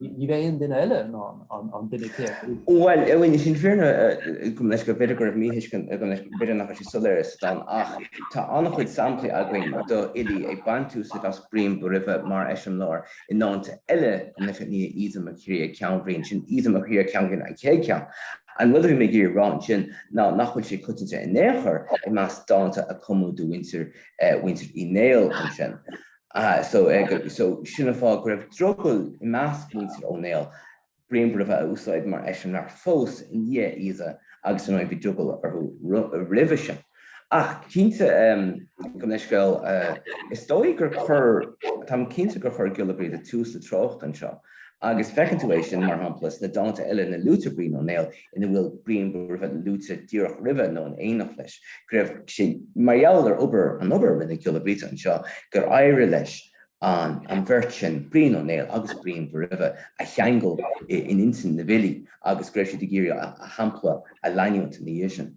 ní bheidh aon duine eile ná an duine céanna a úsáidfidh. Bhuel, é sin is fíor agam leis gur b'fhéidir go raibh míthuiscint agam leis, gur b'fhéidir nach raibh sé soiléir sa dán ach tá an-chuid samplaí againn d'fhilí ag baint úsaid as Brian Bóraimhe mar eiseamláir i ndánta eile, an Oiche Ní a Íosa Mac Críoth Ceannbhriain, sin Íosa Mac Críoth Ceannbhriain an chéad cheann, An rud a bhí mé ag iarraidh a rá ansin ná nach bhfuil sé coitianta in aon chor i measc dánta a cumadh do mhuintir Uí Néill ansin. So sin an fáth go raibh drogall i measc mhuintir Ó Néill Brian Bóraimhe a úsáid mar eiseamláir fós i ndiaidh Íosa agus ar ndóigh bhí drogall orthu roimhe sin. Ach cinnte, gabh mo leithscéal, is dóigh gur chuir, táim cinnte gur chuir Giolla Bríde tús le treocht anseo agus feiceann tú é sin, mar shampla, sna dánta eile ina luaitear Brian Ó Néill ina bhfuil Brian Bóraimhe luaite díreach roimhe nó in éineacht leis, go raibh sé, mar gheall ar obair, an obair a rinne Giolla Bríde anseo, gur éirigh leis an an bheirt sin, Brian Ó Néill agus Brian Bóraimhe, a cheangal in intinn na bhfilí agus go raibh siad ag iarraidh a shampla a leanúint ina dhiaidh sin.